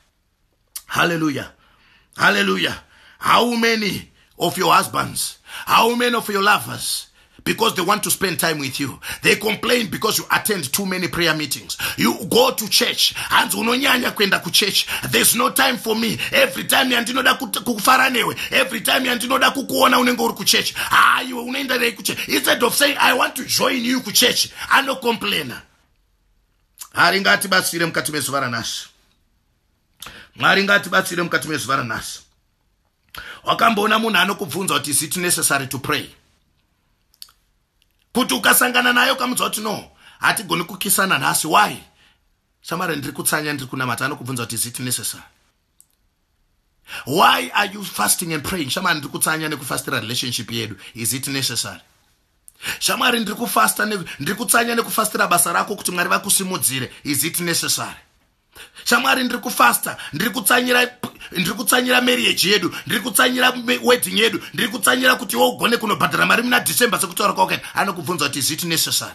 halleluya halleluya how many of your husbands how many of your lovers because they want to spend time with you they complain because you attend too many prayer meetings you go to church hanzi unonyanya kuenda kuchurch there's no time for me every time yandinoda kufara newe every time yandinoda kukuona unenge uri kuchurch haa ah, unoenda nei kuchurch instead of saying i want to join you kuchurch anocomplaina mwari ngatibatsire mukati mezuva ranhasi mwari ngatibatsire mukati mezuva ranhasi wakamboona munhu anokubvunza kuti is it necessary to pray kuti ukasangana naye ukamudzwa kuti no hatigoni kukisana nhasi why shamari ndiri kutsanya ndiri kunamata anokubvunza kuti is it necessary why are you fasting and praying shamwari ndiri kutsanya nekufastira relationship yedu is it necessary shamwari ndiri kufasta ndiri kutsanya nekufastira basa rako kuti mwari vakusimudzire is it necessary shamwari ndiri kufasta ndiri kutsanyira ndiri kutsanyira marriage yedu ndiri kutsanyira wedding yedu ndiri kutsanyira kuti iwe ugone kunobhadhara mari muna december sekutaura kwakaita anokubvunza kuti is it necessary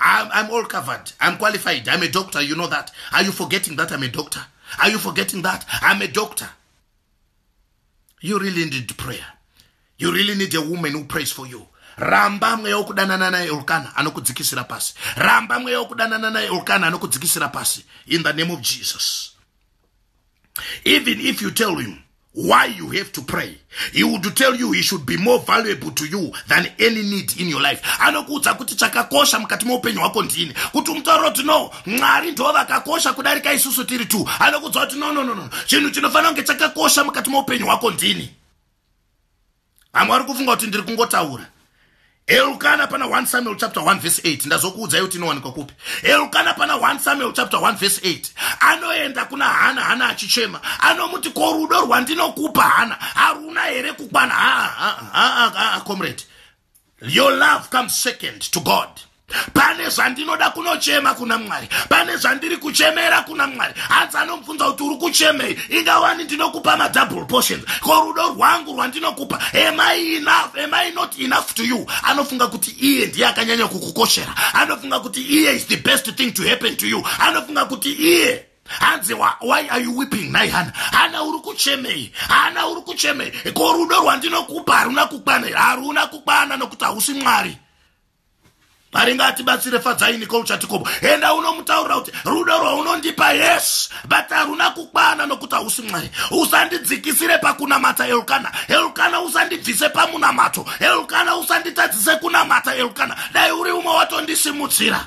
I'm, I'm all covered. I'm qualified. I'm a doctor. You know that. Are you forgetting that I'm a doctor? Are you forgetting that? I'm a doctor. You really need prayer. You really need a woman who prays for you. ramba mweya wokudanana naye elkana anokudzikisira pasi ramba mweya wokudanana naye elkana anokudzikisira pasi in the name of jesus Even if you tell him why you have to pray, he would tell you he should be more valuable to you than any need in your life. Anokuudza kuti chakakosha mukati meupenyu hwako ndini. Kuti umutauro kuti no, Mwari ndivo vakakosha kudarika isusu tiri tu. Anokuudza kuti no, no, no, no. Chinhu chinofanira kunge chakakosha mukati meupenyu hwako ndini. vamwe vari kufunga kuti ndiri kungotaura elukana pana 1 samuel chapter 1 verse 8 ndazokuudzai kuti inowanikwa kupi elukana pana 1 samuel chapter 1 verse 8 anoenda kuna hana hana achichema anomuti ko rudo rwandinokupa hana haruna here kukwana haa comrade Your love comes second to God. Pane zvandinoda kunochema kuna Mwari. Pane zvandiri kuchemera kuna Mwari. Hanzi anomubvunza kuti uri kuchemei? Ingawani ndinokupa ma double portions. Ko rudo rwangu rwandinokupa. Am I enough? Am I not enough to you? Anofunga kuti iye ndiye akanyanya kukukoshera. Anofunga kuti iye is the best thing to happen to you. Anofunga kuti iye hanzi why are you weeping nhai hana hana uri kuchemei hana uri kuchemei ko rudo rwandinokupa haruna kukwana here haruna kukwana nokuti hausi mwari mwari ngaatibatsire fadzai nicol chatikobo enda unomutaurira kuti rudo rwaunondipa yes but haruna kukwana nokuti hausi mwari usandidzikisire pakunamata elkana elkana usandibvise pamunamato elkana usanditadzise kunamata elkana dai uri umwe watondisimudzira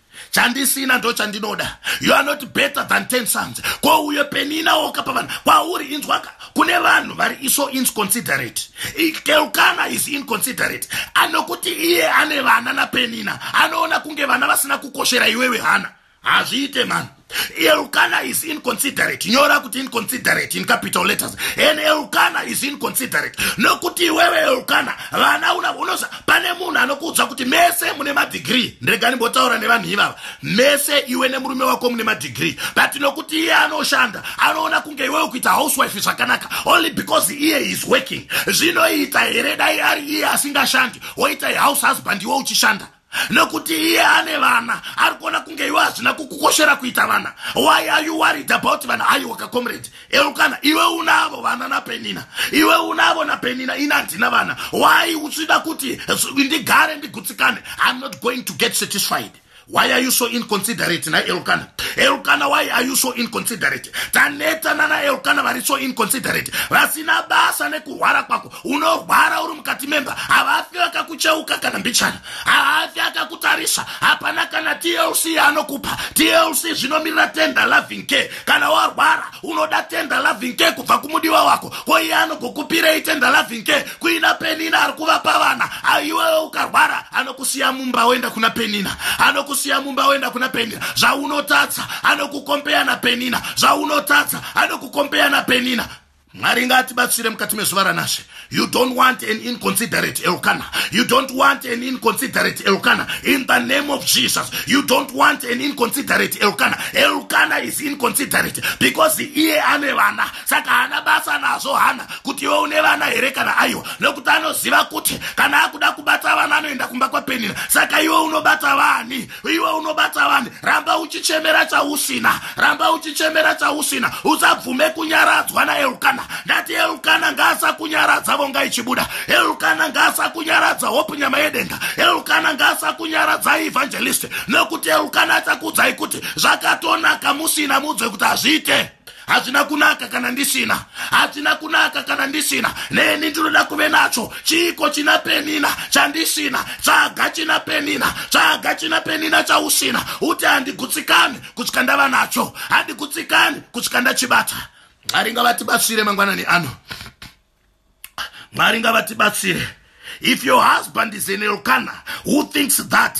chandisina ndo chandinoda you are not better than ten sons ko uyo penina woka pavanhu kwauri inzwaka kune vanhu vari iso inconsiderate keukana is inconsiderate anokuti iye ane vana napenina anoona kunge vana vasina kukoshera iwewe hana hazviite mani Elkana is inconsiderate. Nyora kuti inconsiderate in capital letters. And Elkana is inconsiderate. Nokuti wewe Elkana, vana una unoza pane munhu anokuudza kuti mese mune ma degree. Ndregani botaura nevanhu ivava. Mese iwe nemurume wako mune ma degree. But nokuti iye anoshanda, anoona kunge iwe ukuita housewife zvakanaka only because iye is working. Zvinoita here dai ari iye asingashandi, woita house husband iwe uchishanda. nokuti iye ane vana ari kuona kunge iwe hazvina kukukoshera kuita vana why are you worried about vana aiwaka comrade elukana iwe unavo vana napenina iwe unavo napenina ini handina vana why uchida kuti ndigare ndigutsikane iam not going to get satisfied why are you so inconsiderate na elkana elkana why are you so inconsiderate taneta nana elkana vari so inconsiderate vasina basa nekuhwara kwako unorwara uri mukati memba havafi vakakucheuka kana mbichana haafi akakutarisa hapana kana tlc yaanokupa tlc zvinomirira tender loving care kana warwara unoda tender loving care kubva kumudiwa wako ko iye anogokupirei tender loving care kuina penina ari kuvapa vana aiwewe ukarwara anokusiya mumba woenda kuna penina anokusiya mumba woenda kuna penina zvaunotadza anokukombeya na penina zvaunotadza anokukombeya na penina mwari ngaatibatsire mukati mezuva ranashe you don't want an inconsiderate elkana you don't want an inconsiderate elkana in the name of jesus you don't want an inconsiderate elkana elkana is inconsiderate because iye ane vana saka haana basa nazvo hana kuti iwe une vana here kana aiwa nokuti anoziva kuti kana akuda kubata vana anoenda kumba kwapenina saka iwe unobata vani iwe unobata vanhu ramba uchichemera chausina ramba uchichemera chausina usabvume kunyaradzwa naelukana ndati elukana ngaasakunyaradza vonga ichibuda elukana ngaasakunyaradza hope nyama yedenga elukana ngaasakunyaradza evangelist nekuti elukana achakuudzai kuti zvakatonaka musina mudzwe kuti hazviite hazvina kunaka kana ndisina hazvina kunaka kana ndisina neni ndinoda kuve nacho chiiko china penina chandisina tsvaga china penina tsvaga china penina chausina uti handigutsikani kusvika ndava nacho handigutsikani kusvika ndachibata mwari ngavatibatsire mangwanani ano mwari ngavatibatsire if your husband is in elkana who thinks that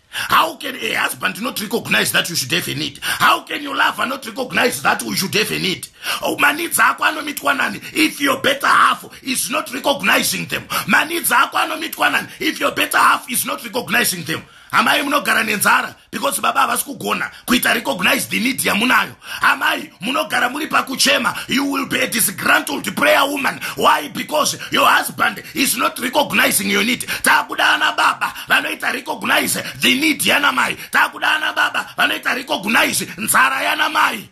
How can a husband not recognize that you should have a need? How can your lover not recognize that you should have a need? Oh, maneeds ako anomitwa nani if your better half is not recognizing them? Maneeds ako anomitwa nani if your better half is not recognizing them? Amai munogara nenzara because baba havasi kugona kuita recognized need yamunayo amai munogara muri pakuchema you will be a disgrantled prayer woman why because your husband is not recognizing your need takuda ana baba vanoita recognize the need yanamai takuda ana baba vanoita recognize nzara yanamai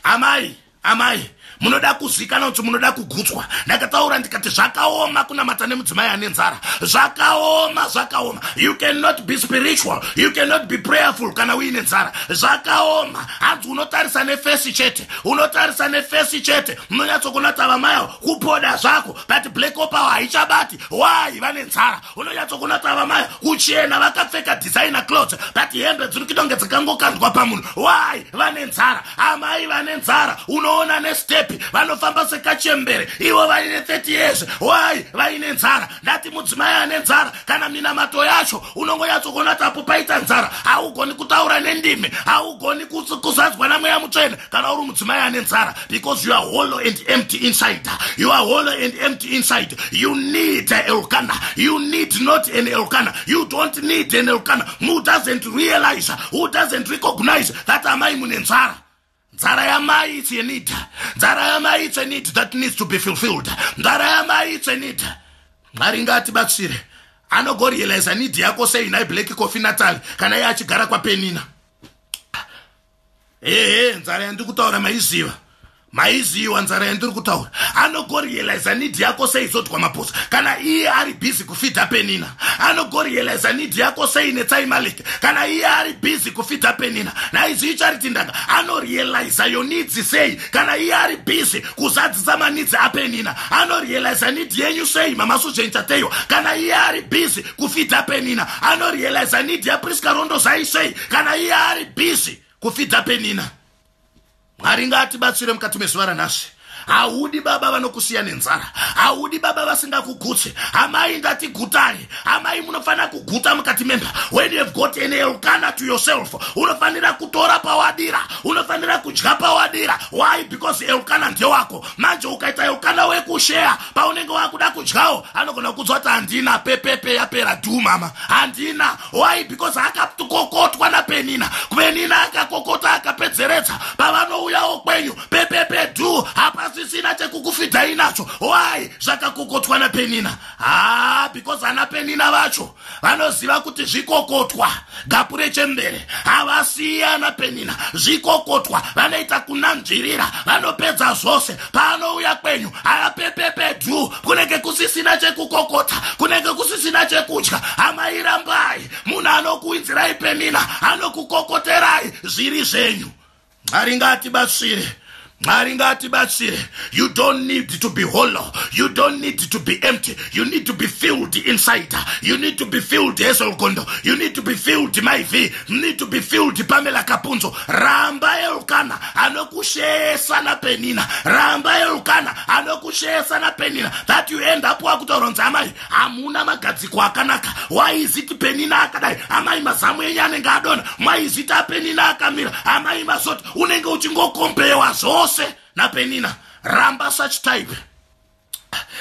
amai amai munoda kuzikana kuti munoda kugutswa ndakataura ndikati zvakaoma kunamata nemudzimai ane nzara zvakaoma zvakaoma you cannot be spiritual you cannot be prayerful kana uine nzara zvakaoma hanzi unotarisa nefesi chete unotarisa nefesi chete munonyatsokunata vamai avo kupoda zvako but black opawa haichabati why vane nzara unonyatsokunatsa vamai kuchena vakapfeka designer clothes but hembe dziri kidonge dzikangokandwa pamunhu why vane nzara amai vane nzara unoona nestepi vanofamba sekachembere ivo vaine 30 years why vaine nzara ndati mudzimai ane nzara kana minamato yacho unongonyatsokunatsapo paita nzara haugoni kutaura nendimi haugoni kuzadzwa namweya mutsvene kana uri mudzimai ane nzara because you are hollow and empty inside you are hollow and empty inside you need elkana you need not an elkana you don't need an elkana who doesn't realize who doesn't recognize that amai mune nzara nzara yamai it's a need nzara yamai it's a need that needs to be fulfilled nzara yamai it's a need mwari ngatibatsire anogorealiza need yako sei nai black coffee natal kana iye achigara kwapenina ehe nzara yandiri kutaura maiziva maiziva nzara yandiri kutaura anogorealiza nidi yako sei zodwa maposa kana iye ari busy kufidha penina anogorealiza nidi yako sei netsai maleke kana iye ari busy kufidha penina naizivi chariti ndanga anorealiza yonidzi sei kana iye ari busy kuzadzisa manidzi apenina anorealiza nidi yenyu sei mamasuzvenchateyo kana iye ari busy kufidza penina anorealiza need yapriska rondo zvaisvei kana iye ari busy kufidza penina mwari ngaatibatsire mukati mezuva ranhasi haudi baba vanokusiya nenzara haudi baba vasingakugutse amai ndati gutare amai munofanira kuguta mukati memba when you have got an elkana to yourself unofanira kutora pawadira unofanira kudya pawadira why because elkana ndewako manje ukaita elkana wekusheya paunenge wakuda kudyawo anogona kukudzwa kuti handina pepepe yapera du mama handina why because akakokotwa napenina kupenina akakokota akapedzeredza pavanouyawo kwenyu pepepe du hapasisina chekukufidhai nacho why zvakakokotwa napenina haa because ana penina vacho vanoziva kuti zvikokotwa gapu rechembere havasiyana penina zvikokotwa vanoita kunanzvirira vanopedza zvose paanouya kwenyu haapepepedu kunenge kusisina chekukokota kunenge kusisina chekudya hamairambai munhu anokuinzirai penina anokukokoterai zviri zvenyu mwari ngaatibatsire mwari ngaatibatsire you don't need to be hollow you don't need to be empty you need to be filled inside you need to be filled hesolgondo you need to be filled maiv you need to be filled pamela kapunzo ramba elukana anokushesa napenina ramba elukana anokushesa napenina that you end up wakutoronza amai hamuna magadziko akanaka waiziti penina akadai amai mazamu enyu anenge adona maiziti apenina akamira amai mazoti unenge uchingokombewa zvose napenina ramba such type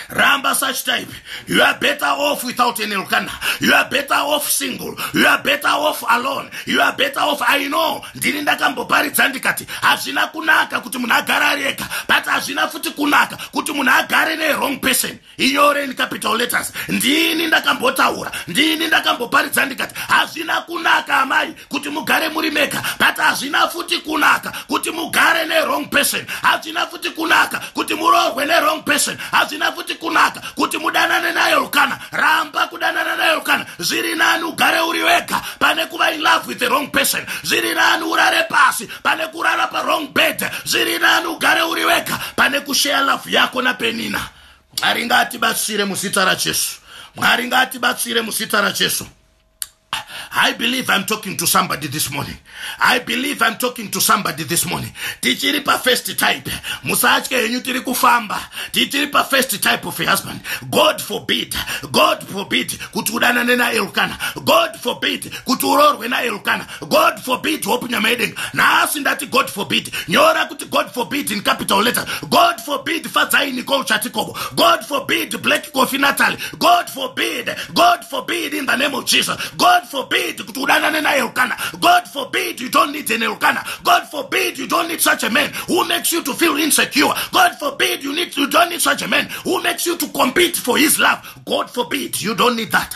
ramba such type you are better off without any lukana you are better off single you are better off alone you are better off i know ndini ndakamboparidza ndikati hazvina kunaka kuti munhu agare ari ega but hazvina futi kunaka kuti munhu agare newrong person inyore in capital letters ndini ndakambotaura ndini ndakamboparidza ndikati hazvina kunaka amai kuti mugare muri mega but hazvina futi kunaka kuti mugare newrong person hazvina futi kunaka kuti muroorwe newrong person hazvina futi kunaka kuti mudanane nayo lukana ramba kudanana nayo lukana zviri nani ugare uri wega pane kuva in love with the wrong person zviri nani urare pasi pane kurara pawrong bed zviri nani ugare uri wega pane kushare love yako napenina mwari ngaatibatsire muzita rajesu mwari ngaatibatsire muzita rajesu I believe I'm talking to somebody this morning. I believe I'm talking to somebody this morning. Tichiri pa first type. Musatye henyu tiri kufamba. Tichiri pa first type of a husband. God forbid. God forbid kuti udanane na Elkana. God forbid kuti uroorwe na Elkana. god forbid hope nyamaedenga nhasi ndati god forbid nyora kuti god forbid in capital letter god forbid fadzai niko uchatikobo god forbid black coffee nataly god forbid god forbid in the name of jesus god forbid kuti udanane naye rukana god forbid you don't need any rukana god forbid you don't need such a man who makes you to feel insecure god forbid you, need, you don't need such a man who makes you to compete for his love god forbid you don't need that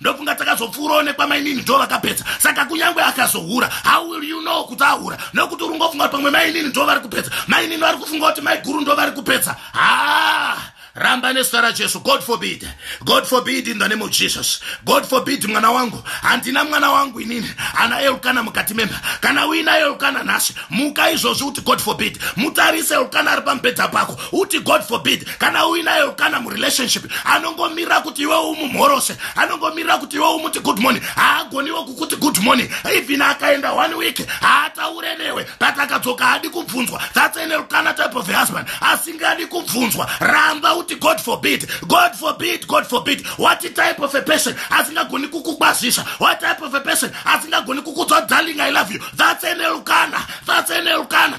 ndofunga takazopfuurawo nekwamainini ndo vakapedza saka kunyange akazohura how will you know kuti ahura nokuti uri ngofunga kuti pamwe mainini ndo vari kupedza mainini vari kufunga kuti maiguru ndo vari kupedza haa ramba nezita rajesu god forbid god forbid in the name of jesus god forbid mwana wangu handina mwana wangu inini ana elukana mukati memba kana uina elukana nhasi muka izvozvi kuti god forbid mutarise elukana ari pamubhedha pako uti god forbid kana uinayo kana murelationship anongomira kuti iwe umumhorose anongomira kuti iwe umuti good morning haagoniwo kukuti good morning even akaenda one week haataure newe but akadzoka haadi kubvunzwa that's an elkana type of husband asingadi kubvunzwa ramba uti god forbid god forbid god forbid what type of a person asingagoni kukukwazisa what type of a person asingagoni kukudzwa darling i love you that's an elkana that's an elkana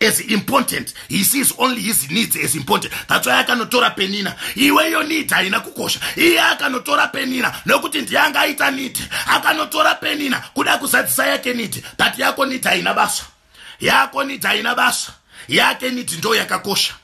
as important he sees only his needs as important that's why akanotora penina iweyo need haina kukosha iye akanotora penina nokuti ndiye anga aita need akanotora penina kuda kuzadzisa yake need but yako need haina basa yako need haina basa yake need ndo yakakosha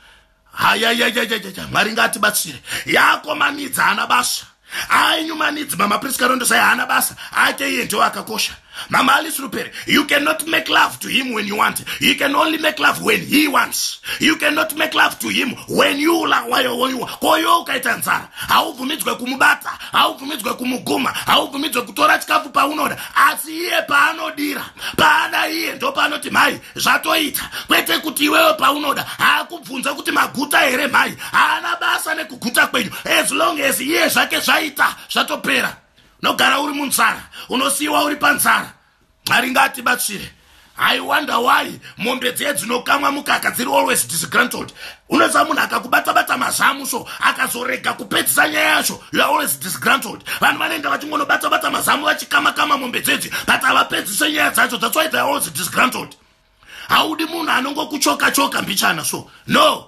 hayayayayayaa mwari ngaatibatsire yakomanidza hana basa ainyumanidzi mama prisca rondo sai haana basa ake iye ndiwo akakosha mama alice rupere you cannot make love to him when you want you can only make love when he wants you cannot make love to him when you lawayowoiwa koyo ukaita nzara haubvumidzwe kumubata haubvumidzwe kumuguma haubvumidzwe kutora chikafu paunoda asi iye paanodira paada iye ndopaanoti mhai zvatoita kwete kuti iwewe paunoda haakubvunza kuti maguta here mhai haana basa nekuguta kwenyu as long as iye zvake zvaita zvatopera unogara uri munzara unosiyiwa uri panzara mwari ngaatibatsire i wonder why mombe dziye dzinokamwa mukaka dziri always disgrantled unoziva munhu akakubatabata mazamu so akazorega kupedzisa nyaya yacho youare always disgrantled vanhu vanoenda vachingonobatabata mazamu vachikamakama mombe dzedzi but havapedzise nyaya dzacho thats why theyare always disgrantled haudi munhu anongokuchoka choka mbichana so no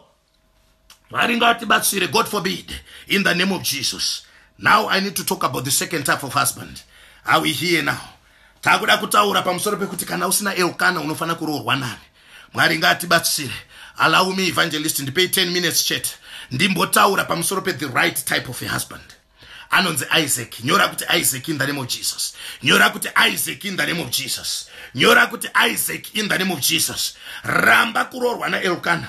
mwari ngavatibatsire god forbid in the name of jesus now i need to talk about the second type of husband are we here now Takuda kutaura pamusoro pekuti kana usina Elkana unofanira kuroorwa nani. Mwari ngaatibatsire. Allow me evangelist ndipei 10 minutes chete. Ndimbotaura pamusoro pe the right type of a husband. Anonzi Isaac. Nyora kuti Isaac in the name of Jesus. Nyora kuti Isaac in the name of Jesus. Nyora kuti Isaac in the name of Jesus. Ramba kuroorwa na Elkana.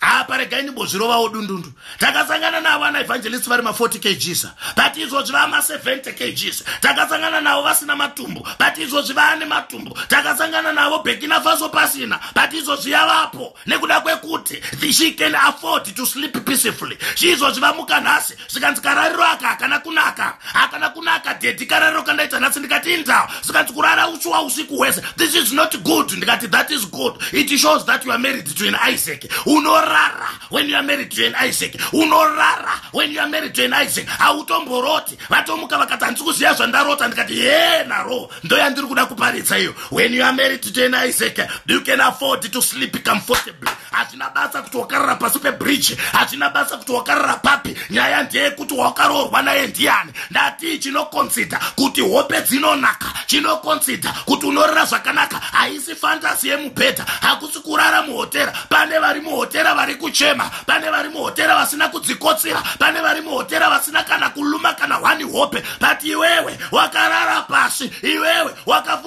apa regai ndimbozvirovawo dundundu takasangana navo ana evangelist vari ma40 kgs but izvozvi vaa ma70 kgs takasangana navo vasina matumbu but izvozvi vaane matumbu takasangana navo bekina faso pasina but izvozvi yavapo nekuda kwekuti she can afford to sleep peacefully izvozvi vamuka nhasi zvikanzi karariro aka hakana kunaka hakana kunaka dedi karariro kandaita nhasi ndikati indawo zvikanzi kurara uchiwa usiku hwese this is not good ndikati that is good it shows that you are married to an isaac unorara when you are married to an isaac unorara when you are married to an isaac hautomboroti vatomuka vakati handisi kuziva zvandarota ndikati ye naro ndo yandiri kuda kuparidza iyo when you are married to an isaac you can afford to sleep comfortably hazvina basa kuti wakarara pasi pebridge hazvina basa kuti wakarara papi nyaya ndeyekuti wakaroorwa naye ndiyani ndatii chinokonsidha kuti hope dzinonaka chinokonsidha kuti unorara zvakanaka haisi fantasi yemubhedha hakusi kurara muhotera pane vari muhotera vari kuchema pane vari muhotera vasina kudzikotsira pane vari muhotera vasina kana kuluma kana hwani hope but iwewe wakarara pasi iwewe waka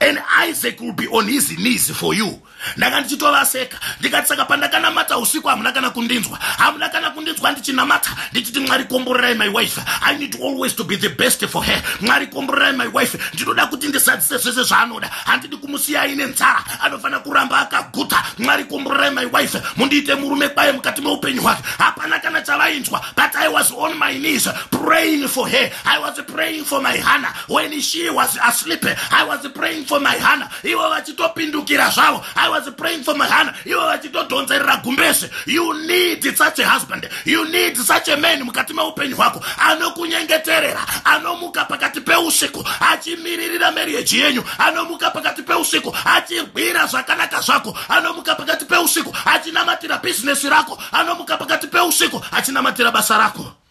and isaac will be on his knees for you ndanga ndichitovaseka ndikati saka pandakanamata usiku hamuna kana kundinzwa hamuna kana kundinzwa ndichinamata ndichiti mwari komborerai my wife i need always to be the best for her mwari komborerai my wife ndinoda kuti ndisadzise zvese zvaanoda handidi kumusiya aine nzara anofanira kuramba akaguta mwari komborerai my wife mundiite murume kwaye mukati meupenyu hwake hapana kana chavainzwa but i was on my knees praying for her i was praying for my hana when she was asleep i was praying for my hana ivo vachitopindukira zvavo i was praying for my hana ivo vachitodhonzerera gumbeze you need such a husband you need such a man mukati meupenyu hwako anokunyengeterera anomuka pakati peusiku achimiririra marriage yenyu anomuka pakati peusiku achirwira zvakanaka zvako anomuka pakati peusiku achinamatira bhizinesi rako anomuka pakati peusiku achinamatira basa rako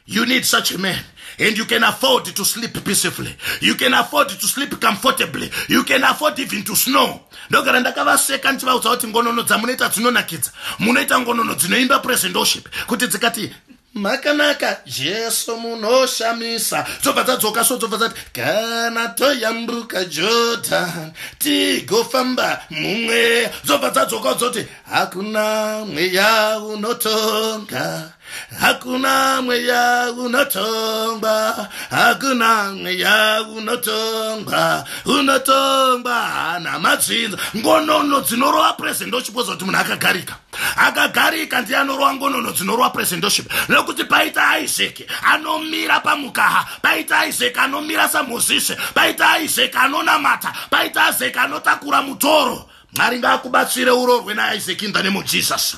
You need such a man. And you can afford to sleep peacefully. You can afford to sleep comfortably. You can afford even to snow. ndogara ndakavaseka ndichivaudza kuti ngonono dzamunoita dzinonakidza munoita ngonono dzinoimba present worship kuti dzikati makanaka jesu munoshamisa dzobva dzadzoka so dzobva dzati kana toyambuka jordan tigofamba mumweya dzobva dzadzoka dzoti hakuna mweya unotonga Hakuna mweya unotongwa, hakuna mweya unotongwa, unotongwa hana matsinza. Ngonono dzinorova presendoship oziva kuti munhu akagarika. Akagarika ndiye anorova ngonono dzinorova presendoship. Nekuti paita Isaac anomira pamukaha, paita Isaac anomira saMozisi, paita Isaac anonamata, paita Isaac anotakura mutoro. Mwari ngaakubatsire urorwe naIsaac in the name of Jesus.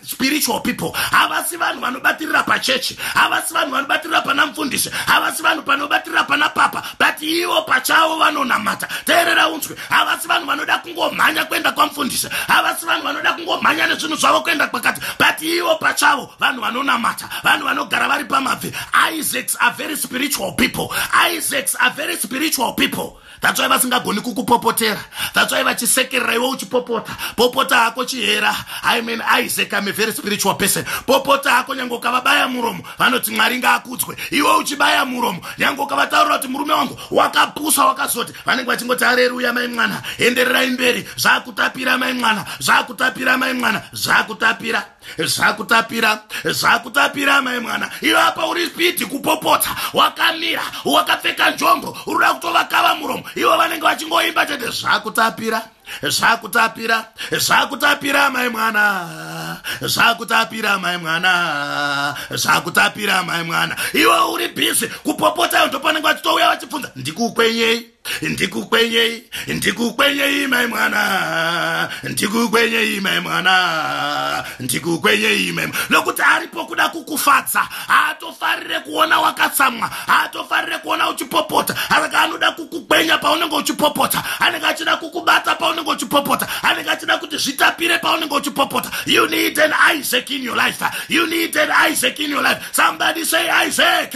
spiritual people havasi vanhu vanobatirira pachechi havasi vanhu vanobatirira pana mfundisi havasi vanhu panobatirira pana papa but ivo pachavo vanonamata teerera unzwe havasi vanhu vanoda kungomhanya kuenda kwamfundisi havasi vanhu vanoda kungomhanya nezvinhu zvavo kuenda kwakati but ivo pachavo vanhu vanonamata vanhu vanogara vari pamabvi isaacs are very spiritual people isaacs are very spiritual people that's why vasingagoni kukupopotera that's why vachisekerera iwe uchipopota popota hako chihera i mean isaac am a very spiritual person popota hako nyange ukavabaya muromo vanoti mwari ngaakudzwe iwe uchibaya muromo nyange ukavataurira kuti murume wangu wakapusa wakazoti vanenge vachingoti areruya mai mwana endererai mberi zvakutapira mai mwana zvakutapira mai mwana zvakutapira zvakutapira zvakutapira mai mwana iwe apa uri spidi kupopotsa wakamira wakapfeka njombo uruda kutovakava muromo ivo vanenge vachingoimba chete zvakutapira zvakutapira zvakutapira mai mwana zvakutapira mai mwana zvakutapira mai mwana iwe uri bhizi kupopotsa iyo ndopanenge vachitouya vachibvunza ndikukwenyei ndikukwenyei ndikukwenyei mai mwana ndikukwenyei mai mwana ndikukwenyei mai nokuti aripo kuda kukufadza haatofarire kuona wakatsamwa haatofarire kuona uchipopota asaka anoda kukukwenya paunenge uchipopota anenge achida kukubata paunenge uchipopota anenge achida kuti zvitapire paunenge uchipopota you need an isaac in your life you need an isaac in your life somebody say isaac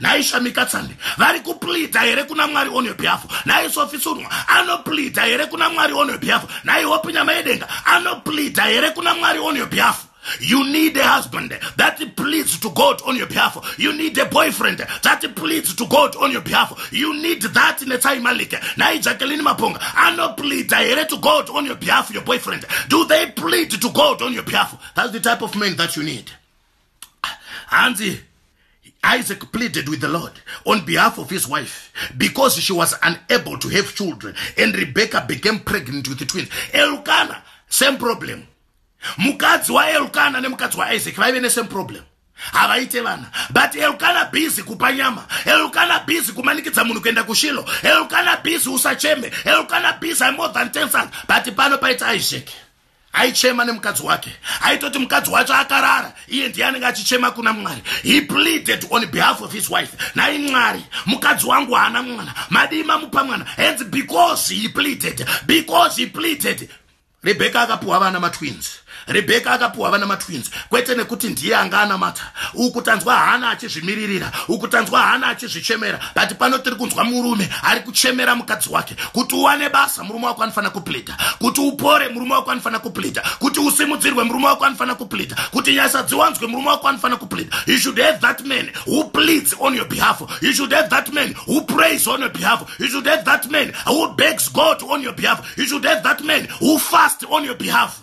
nhai shamika tsande vari kuplida here kuna mwari on your behalf nhai sofi sunwa anoplida here kuna mwari on your behalf nhai hope nyama yedenga anoplida here kuna mwari on your behalf You need a husband that pleads to God on your behalf. You need a boyfriend that pleads to God on your behalf. You need that Netsai Malik. Nai Jacqueline Maponga. Ano plead here to God on your behalf, your boyfriend. Do they plead to God on your behalf? That's the type of man that you need. hanzi Isaac pleaded with the Lord on behalf of his wife because she was unable to have children and Rebecca became pregnant with the twins. Elkana, same problem. Mukadzi wa Elkana nemukadzi wa Isaac vaive nesame problem. havaite vana but elukana bhizi kupa nyama elukana bhizi kumanikidza munhu kuenda kushilo elukana bhizi usacheme elukana bhizi imore than ten sons but pano paita isaac aichema nemukadzi wake aitoti mukadzi wacho akarara iye ndiye anenge achichema kuna mwari he pleaded on behalf of his wife nai mwari mukadzi wangu haana mwana madii mamupa mwana hands because he pleaded because he pleaded rebheka akapiwa vana matwins rebheka akapiwa vana matwins kwete nekuti ndiye anga anamata uku tanzwa hana achizvimiririra uku tanzwa hana achizvichemera but pano tiri kunzwa murume ari kuchemera mukadzi wake kuti uwane basa kuporesa murume wako anofanira kuplida kuti upore murume wako anofanira kuplida kuti usimudzirwe murume wako anofanira kuplida kuti nyasha dziwanzwe murume wako anofanira kuplida you should have that man who pleads on your behalf you should have that man who prays on your behalf you should have that man who begs god on your behalf you should have that man who fast on your behalf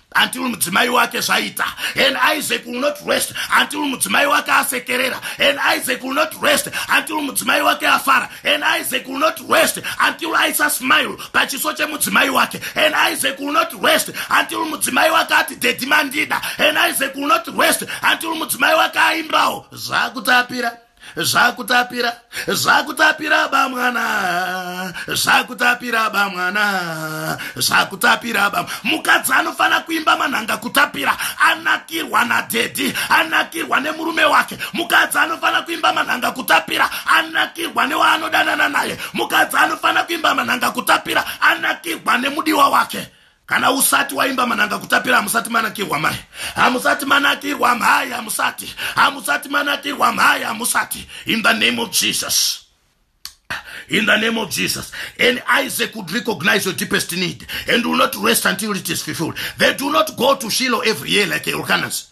until mudzimai wake zvaita and isaac will not rest until mudzimai wake asekerera and isaac will not rest until mudzimai wake afara and isaac will not rest until aisa smile pachiso chemudzimai wake and isaac will not rest until mudzimai wake ati dedhi mandida and isaac will not rest until mudzimai wake aimbawo zvakutapira zvakutapira zvakutapira bamwana zvakutapira bamwana zvakutapira bam mukadzi anofanira kuimba manhanga kutapira anakirwa nadhedhi anakirwa nemurume wake mukadzi anofanira kuimba manhanga kutapira anakirwa newaanodanana naye mukadzi anofanira kuimba manhanga kutapira anakirwa nemudiwa wake kana usati waimba mananga kutapira hamusati manakirwa mhai hamusati manakirwa mhai hamusati hamusati manakirwa mhai hamusati in the name of jesus in the name of Jesus. And Isaac would recognize your deepest need and will not rest until it is fulfilled. They do not go to Shiloh every year like Elkanah's.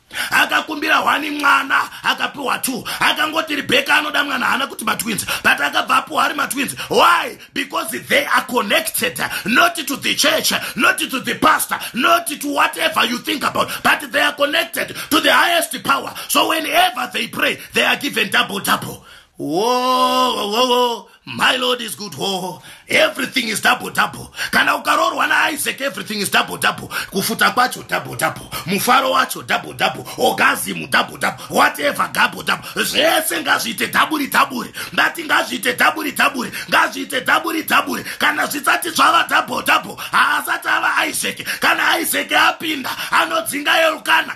akakumbira hwani mwana akapiwa two akangoti rebeka anoda mwana haana kuti matwins but akabva apiwa ari matwins why because they are connected not to the church not to the pastor not to whatever you think about but they are connected to the highest power so whenever they pray they are given double double whoa, whoa, whoa. My Lord is good ho everything is double double kana ukaroorwa naIsaac everything is double double kufuta kwacho double double mufaro wacho double double orgasm double double whatever double double zvese ngazviite dhaburi dhaburi ndati ngazviite dhaburi dhaburi ngazviite dhaburi dhaburi kana zvisati zvava double double haasati ava Isaac kana Isaac apinda anodzinga Elkana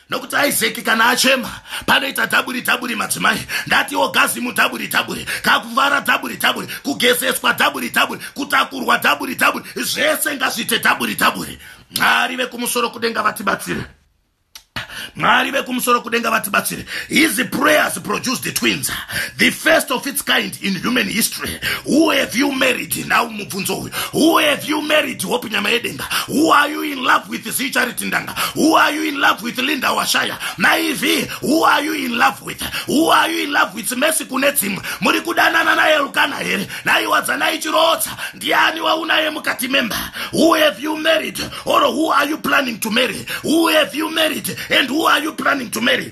nokuti isaki kana achema panoita dhaburi dhaburi madzimai ndatiwo gazimu dhaburi dhaburi kakuvara dhaburi dhaburi kugezeswa dhaburi dhaburi kutakurwa dhaburi dhaburi zvese ngazviite dhaburi dhaburi mwari vekumusoro kudenga vatibatsire mwari vekumusoro kudenga vatibatsire his prayers produced the twins the first of its kind in human history who have you married now mubvunzo who have you married hope nyama yedenga who are you in love with zicharity ndanga who are you in love with linda washaya maivi who are you in love with who are you in love with mesi kune dzimwe muri kudanana naye rukana here naiwadzanai chirotsa ndiani waunaye mukati memba who have you married or who are you planning to marry who have you married and who are you planning to marry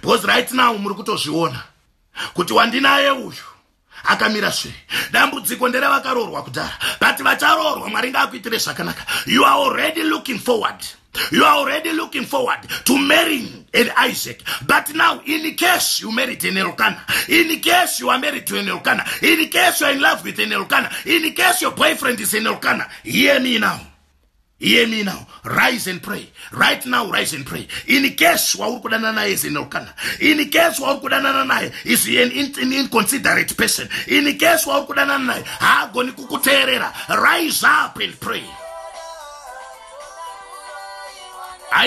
because right now muri kutozviona kuti wandinaye uyu akamira sve dambudziko nderevakaroorwa kudhara but vacharoorwa mwari ngaakuitire zvakanaka you are already looking forward you are already looking forward to marrying an isaac but now in case you married an elkana in case you are married to an elkana in case you are in love with an elkana in case your boyfriend is an elkana hear me now hear me now rise and pray right now rise and pray in case wauri kudanana naye is inokana in case wauri kudanana naye is an inconsiderate person in case wauri kudanana naye haagoni kukuteerera rise up and pray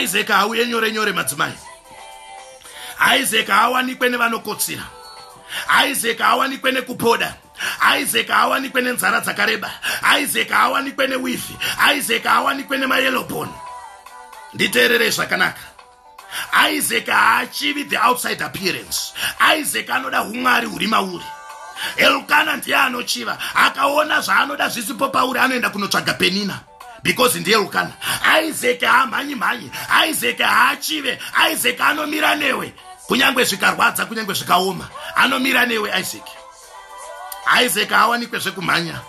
isaac hauye nyore nyore madzimai isaac haawanikwe nevanokotsira isaac haawanikwe nekupoda isaac haawanikwe nenzara dzakareba isaac haawanikwe newifi isaac haawanikwe nemayelobon nditeererei zvakanaka isaac haachivi the outside appearance isaac anoda umwari huri mauri elkana ndiye anochiva akaona zvaanoda zvisipo pauri anoenda kunotsvaga penina because ndiye rukana isaac haamhanyi mhanyi isaac haachive isaac anomira newe kunyange zvikarwadza kunyange zvikaoma anomira newe isaac isaac haawanikwe zvekumhanya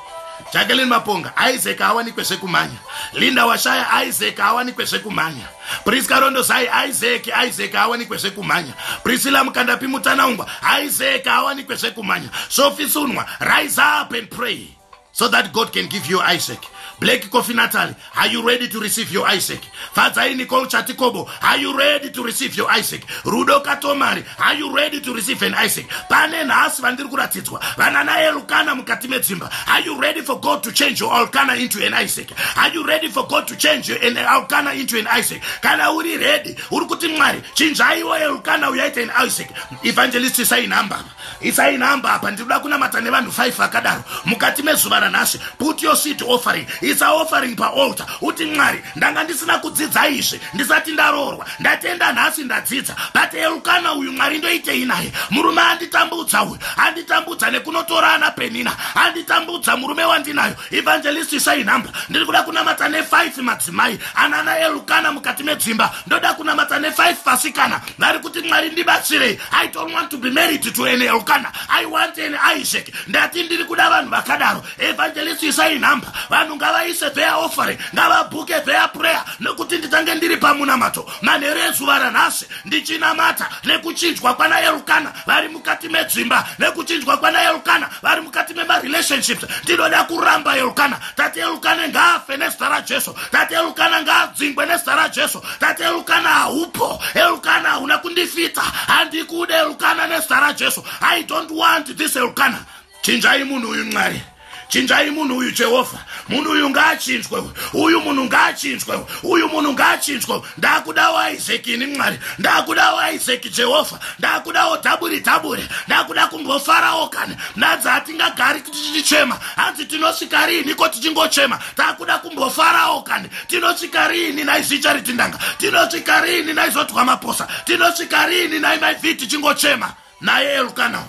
jackelin maponga isaac haawanikwe zvekumhanya linda washaya isaac haawanikwe zvekumhanya prisca rondozai isaac isaac haawanikwe zvekumhanya priscilla mukandapi mutanaungwa isaac haawanikwe zvekumhanya sofisunwa rise up and pray so that god can give you isaac black coffee nataly are you ready to receive your isaac fadzai nicol chatikobo are you ready to receive your isaac rudo katomari are you ready to receive an isaac pane nhasi vandiri kuratidzwa vana naye lukana mukati medzimba are you ready for god to change your alkana into an isaac are you ready for god to change your an alkana into an isaac kana uri ready uri kuti mwari chinjaiwo elukana uyaita an isaac evangelist sai number Isai nhamba apa ndinoda kunamata nevanhu 5 vakadaro mukati mezuva ranhasi put your seed offering isa offering paalter uti mwari ndanga ndisina kudzidza izvi ndisati ndaroorwa ndatenda nhasi ndadzidza but elukana uyu mwari ndoitei naye murume anditambudza uyu anditambudza nekunotora ana penina anditambudza murume wandinayo Evangelist isai nhamba ndiri kuda kunamata nefive madzimai anana elukana mukati medzimba ndoda kunamata nefive vasikana vari kuti mwari ndibatsirei i don't want to be married to an elukana i want an isaac ndati ndiri kuda vanhu vakadaro evangelist isai nhamba vanhu ngavaise their offering ngavabhuke their prayer nekuti nditange ndiri pamunamato manheru ezuva ranhasi ndichinamata nekuchinjwa kwana elukana vari mukati medzimba nekuchinjwa kwana elukana vari mukati memarelationships ndinoda kuramba elukana tati elukana ngaafe nezita rajesu tati elukana ngaadzingwe nezita rajesu tati elukana haupo elukana hauna kundifita handikude elukana nezita rajesu i don't want this elukana chinjai munhu uyu mwari chinjai munhu uyu jehovha munhu uyu ngaachinzwe uyu munhu ngaachinzwe uyu munhu ngaachinzwe ndakudawo isaki ini mwari ndakudawo isaki jehovha ndakudawo dhaburi dhaburi ndakuda kumbofarawo kana nadzi hatingagari kuti tichema hanzi tinosvika riini ko tichingochema takuda kumbofarawo kani tinosvika riini naizicha ritindanga tinosvika riini naizotwa maposa tinosvika riini naimaivi tichingochema naye elukana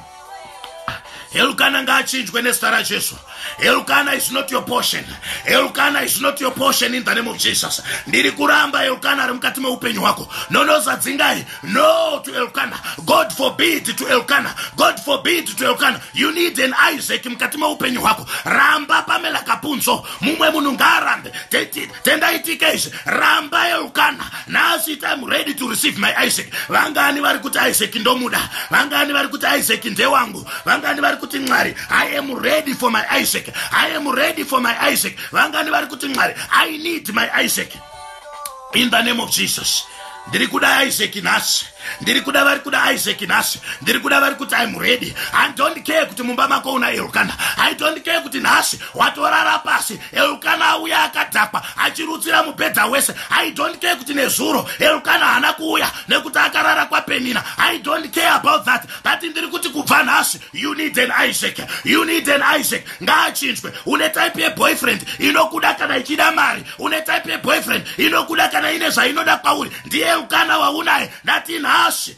elukana ngaachinjwe nezita rajesu elukana is not your portion elukana is not your portion in the name of jesus ndiri kuramba elukana ari mukati meupenyu hwako nonozadzingai no to elukana god forbid to elukana god forbid to elukana you need an isaac mukati meupenyu hwako ramba pamela kapunzo mumwe munhu ngaarambe tendai tk izvi rambai eukana nhasi it im ready to receive my isaac vangani vari kuti isaac ndomuda vangani vari kuti isaac ndewangu vangani vari kuti mwari i am ready for my isaac i am ready for my isaac vangani vari kuti mwari i need my isaac in the name of jesus ndiri kuda isaac nhasi ndiri kuda vari kuda isaac nhasi ndiri kuda vari kuti im ready i don't care kuti mumba mako una elkana i don't care kuti nhasi watorara pasi elukana auya akadhakwa achirutsira mubhedha wese i don't care kuti nezuro elukana haana kuuya nekuti akarara kwapenina i don't care about that but ndiri kuti kubva nhasi you need an isaac you need an isaac ngaachinjwe une type yeboyfriend inokuda kana ichida mari une type yeboyfriend inokuda kana ine zvainoda kwauri ndiye elukana waunaye ndati nhasi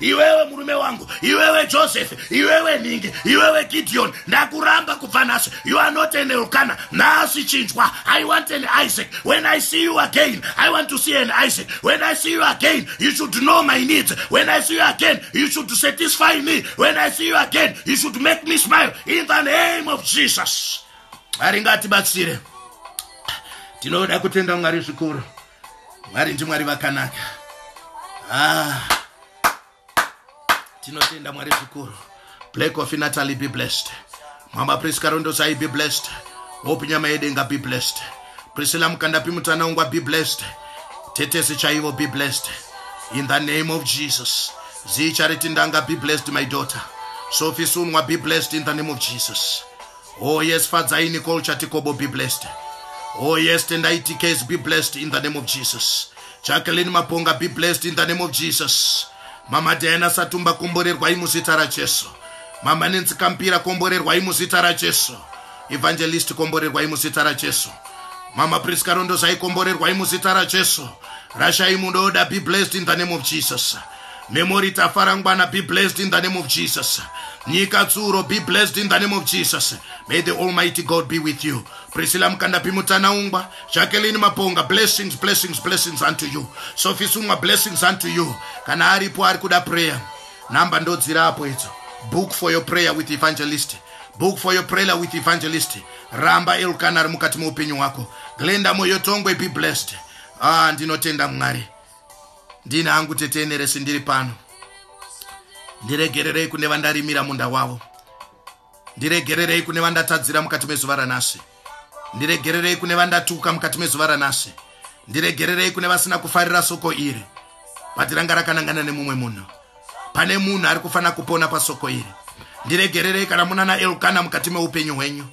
iwewe murume wangu iwewe joseph iwewe nhingi iwewe gideon ndakuramba kubva nhasi you are not an elkana nhasi chinjwa i want an isaac when i see you again i want to see an isaac when i see you again you should know my needs when i see you again you should satisfy me when i see you again you should make me smile in the name of jesus aringatibatsire tinoda kutenda mwari zvikuru mwari ndimwari vakanaka ah. tinotenda mwari zvikuru black of natalie be blessed mama prisca rondosai be blessed hope nyama yedenga be blessed priscilla mukandapi mutanaungwa be blessed tetesi chaivo be blessed in the name of jesus zii chariti ndanga be blessed my daughter sofi sunwa be blessed in the name of jesus Oh yes, Fadzai Nicole Chatikobo, be blessed. Oh yes, Tendai TKs, be blessed in the name of Jesus. Jacqueline Maponga, be blessed in the name of Jesus. Mama Diana Satumba, komborerwai muzita raJesu. Mama Nancy Kampira, komborerwai muzita raJesu. Evangelist, komborerwai muzita raJesu. Mama Prisca Rondozai, komborerwai muzita raJesu. Rashai Mudoda, be blessed in the name of Jesus. Memory Tafarangwana, be blessed in the name of Jesus. Nyika Tsuro, be blessed in the name of Jesus. May the Almighty God be with you. Priscilla Mkandapi Mutanaungwa, Jacqueline Maponga, blessings, blessings, blessings unto you. Sophie Sungwa, blessings unto you. Kana aripo ari kuda prayer. Namba ndodzira apo idzo. Book for your prayer with evangelist. Book for your prayer with evangelist. Ramba Elkanah mukati meupenyu wako. Glenda Moyotongwe, be blessed. Ah, ndinotenda Mwari. ndini hangu tete eneresi ndiri pano ndiregererei kune vandarimira munda wavo ndiregererei kune vandatadzira mukati mezuva ranhasi ndiregererei kune vandatuka mukati mezuva ranhasi ndiregererei kune vasina kufarira soko iri bati ranga rakanangana nemumwe munhu pane munhu ari kufanira kupona pasoko iri ndiregererei kana munana elkana mukati meupenyu hwenyu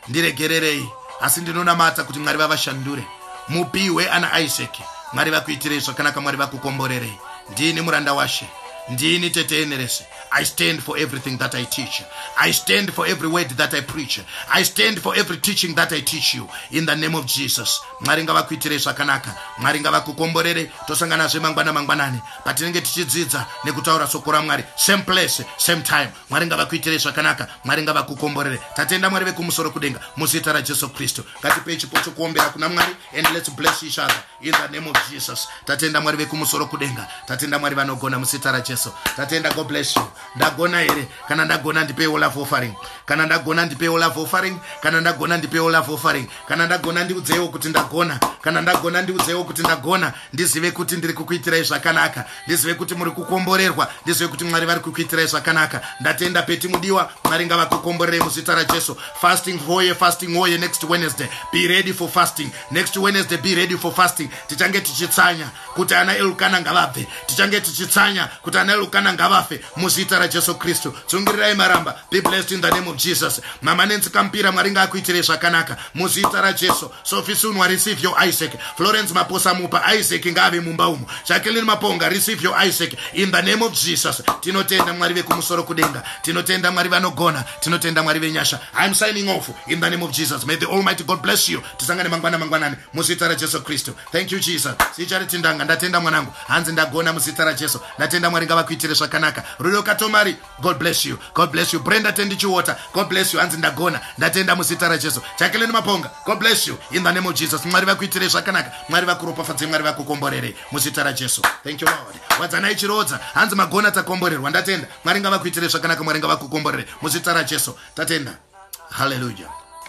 ndiregererei asi ndinonamata kuti mwari vavashandure mupihwe ana isaki mwari vakuitirei zvakanaka mwari vakukomborerei ndini muranda washe ndini tete enerese i stand for everything that i teach i stand for every word that i preach i stand for every teaching that i teach you in the name of jesus mwari ngavakuitirei zvakanaka mwari ngavakukomborere tosanganazve mangwana mangwanani patinenge tichidzidza nekutaura soko ramwari same place same time mwari ngavakuitirei zvakanaka mwari ngavakukomborere tatenda mwari vekumusoro kudenga muzita rajesu kristu ngatipei chipo chokuombera kuna mwari and lets bless each other in the name of jesus tatenda mwari vekumusoro kudenga tatenda mwari vanogona muzita rajesu tatenda god bless you ndagona here kana ndagona ndipei olaf offering kana ndagona ndipei olaf offering kana ndagona ndipei olaf offering kana ndagona ndiudzeiwo kuti ndagona kana ndagona ndiudzeiwo kuti ndagona ndizive kuti ndiri kukuitirai zvakanaka ndizive kuti muri kukomborerwa ndizive kuti mwari vari kukuitirai zvakanaka ndatenda peti mudiwa mwari ngavakukomborerei muzita rajesu fasting hoye fasting hoye next wednesday be ready for fasting next wednesday be ready for fasting tichange tichitsanya kuti ana elukana ngavabve tichange tichitsanya kuti ana elukana ngavafe muzita rajesu kristu tsungirirai maramba be blessed in the name of jesus mama nenzi kampira mwari ngaakuitirei zvakanaka muzita rajesu Sophie Sunwa, receive your Isaac. Florence Maposa Mupa, Isaac ngaave mumba umo. Jacqueline Maponga, receive your Isaac. In the name of Jesus. Tinotenda Mwari vekumusoro kudenga. Tinotenda Mwari vanogona. Tinotenda Mwari venyasha. I'm signing off in the name of Jesus. May the Almighty God bless you. Tisangane mangwana mangwanani muzita raJesu Kristu. Thank you Jesus. Sichariti ndanga ndatenda mwanangu. Hanzi ndagona muzita raJesu. Ndatenda Mwari ngavakuitire zvakanaka. Rudo Katomari god bless you god bless you brenda tendi chiwater god bless you hanzi ndagona ndatenda muzita rajesu jacqueline maponga god bless you in the name of jesus mwari vakuitirei zvakanaka mwari vakuropafadzei mwari vakukomborerei muzita rajesu thank you lord wadzanai chirodza hanzi magona takomborerwa ndatenda mwari ngavakuitirei zvakanaka mwari ngavakukomborerei muzita rajesu tatenda hallelujah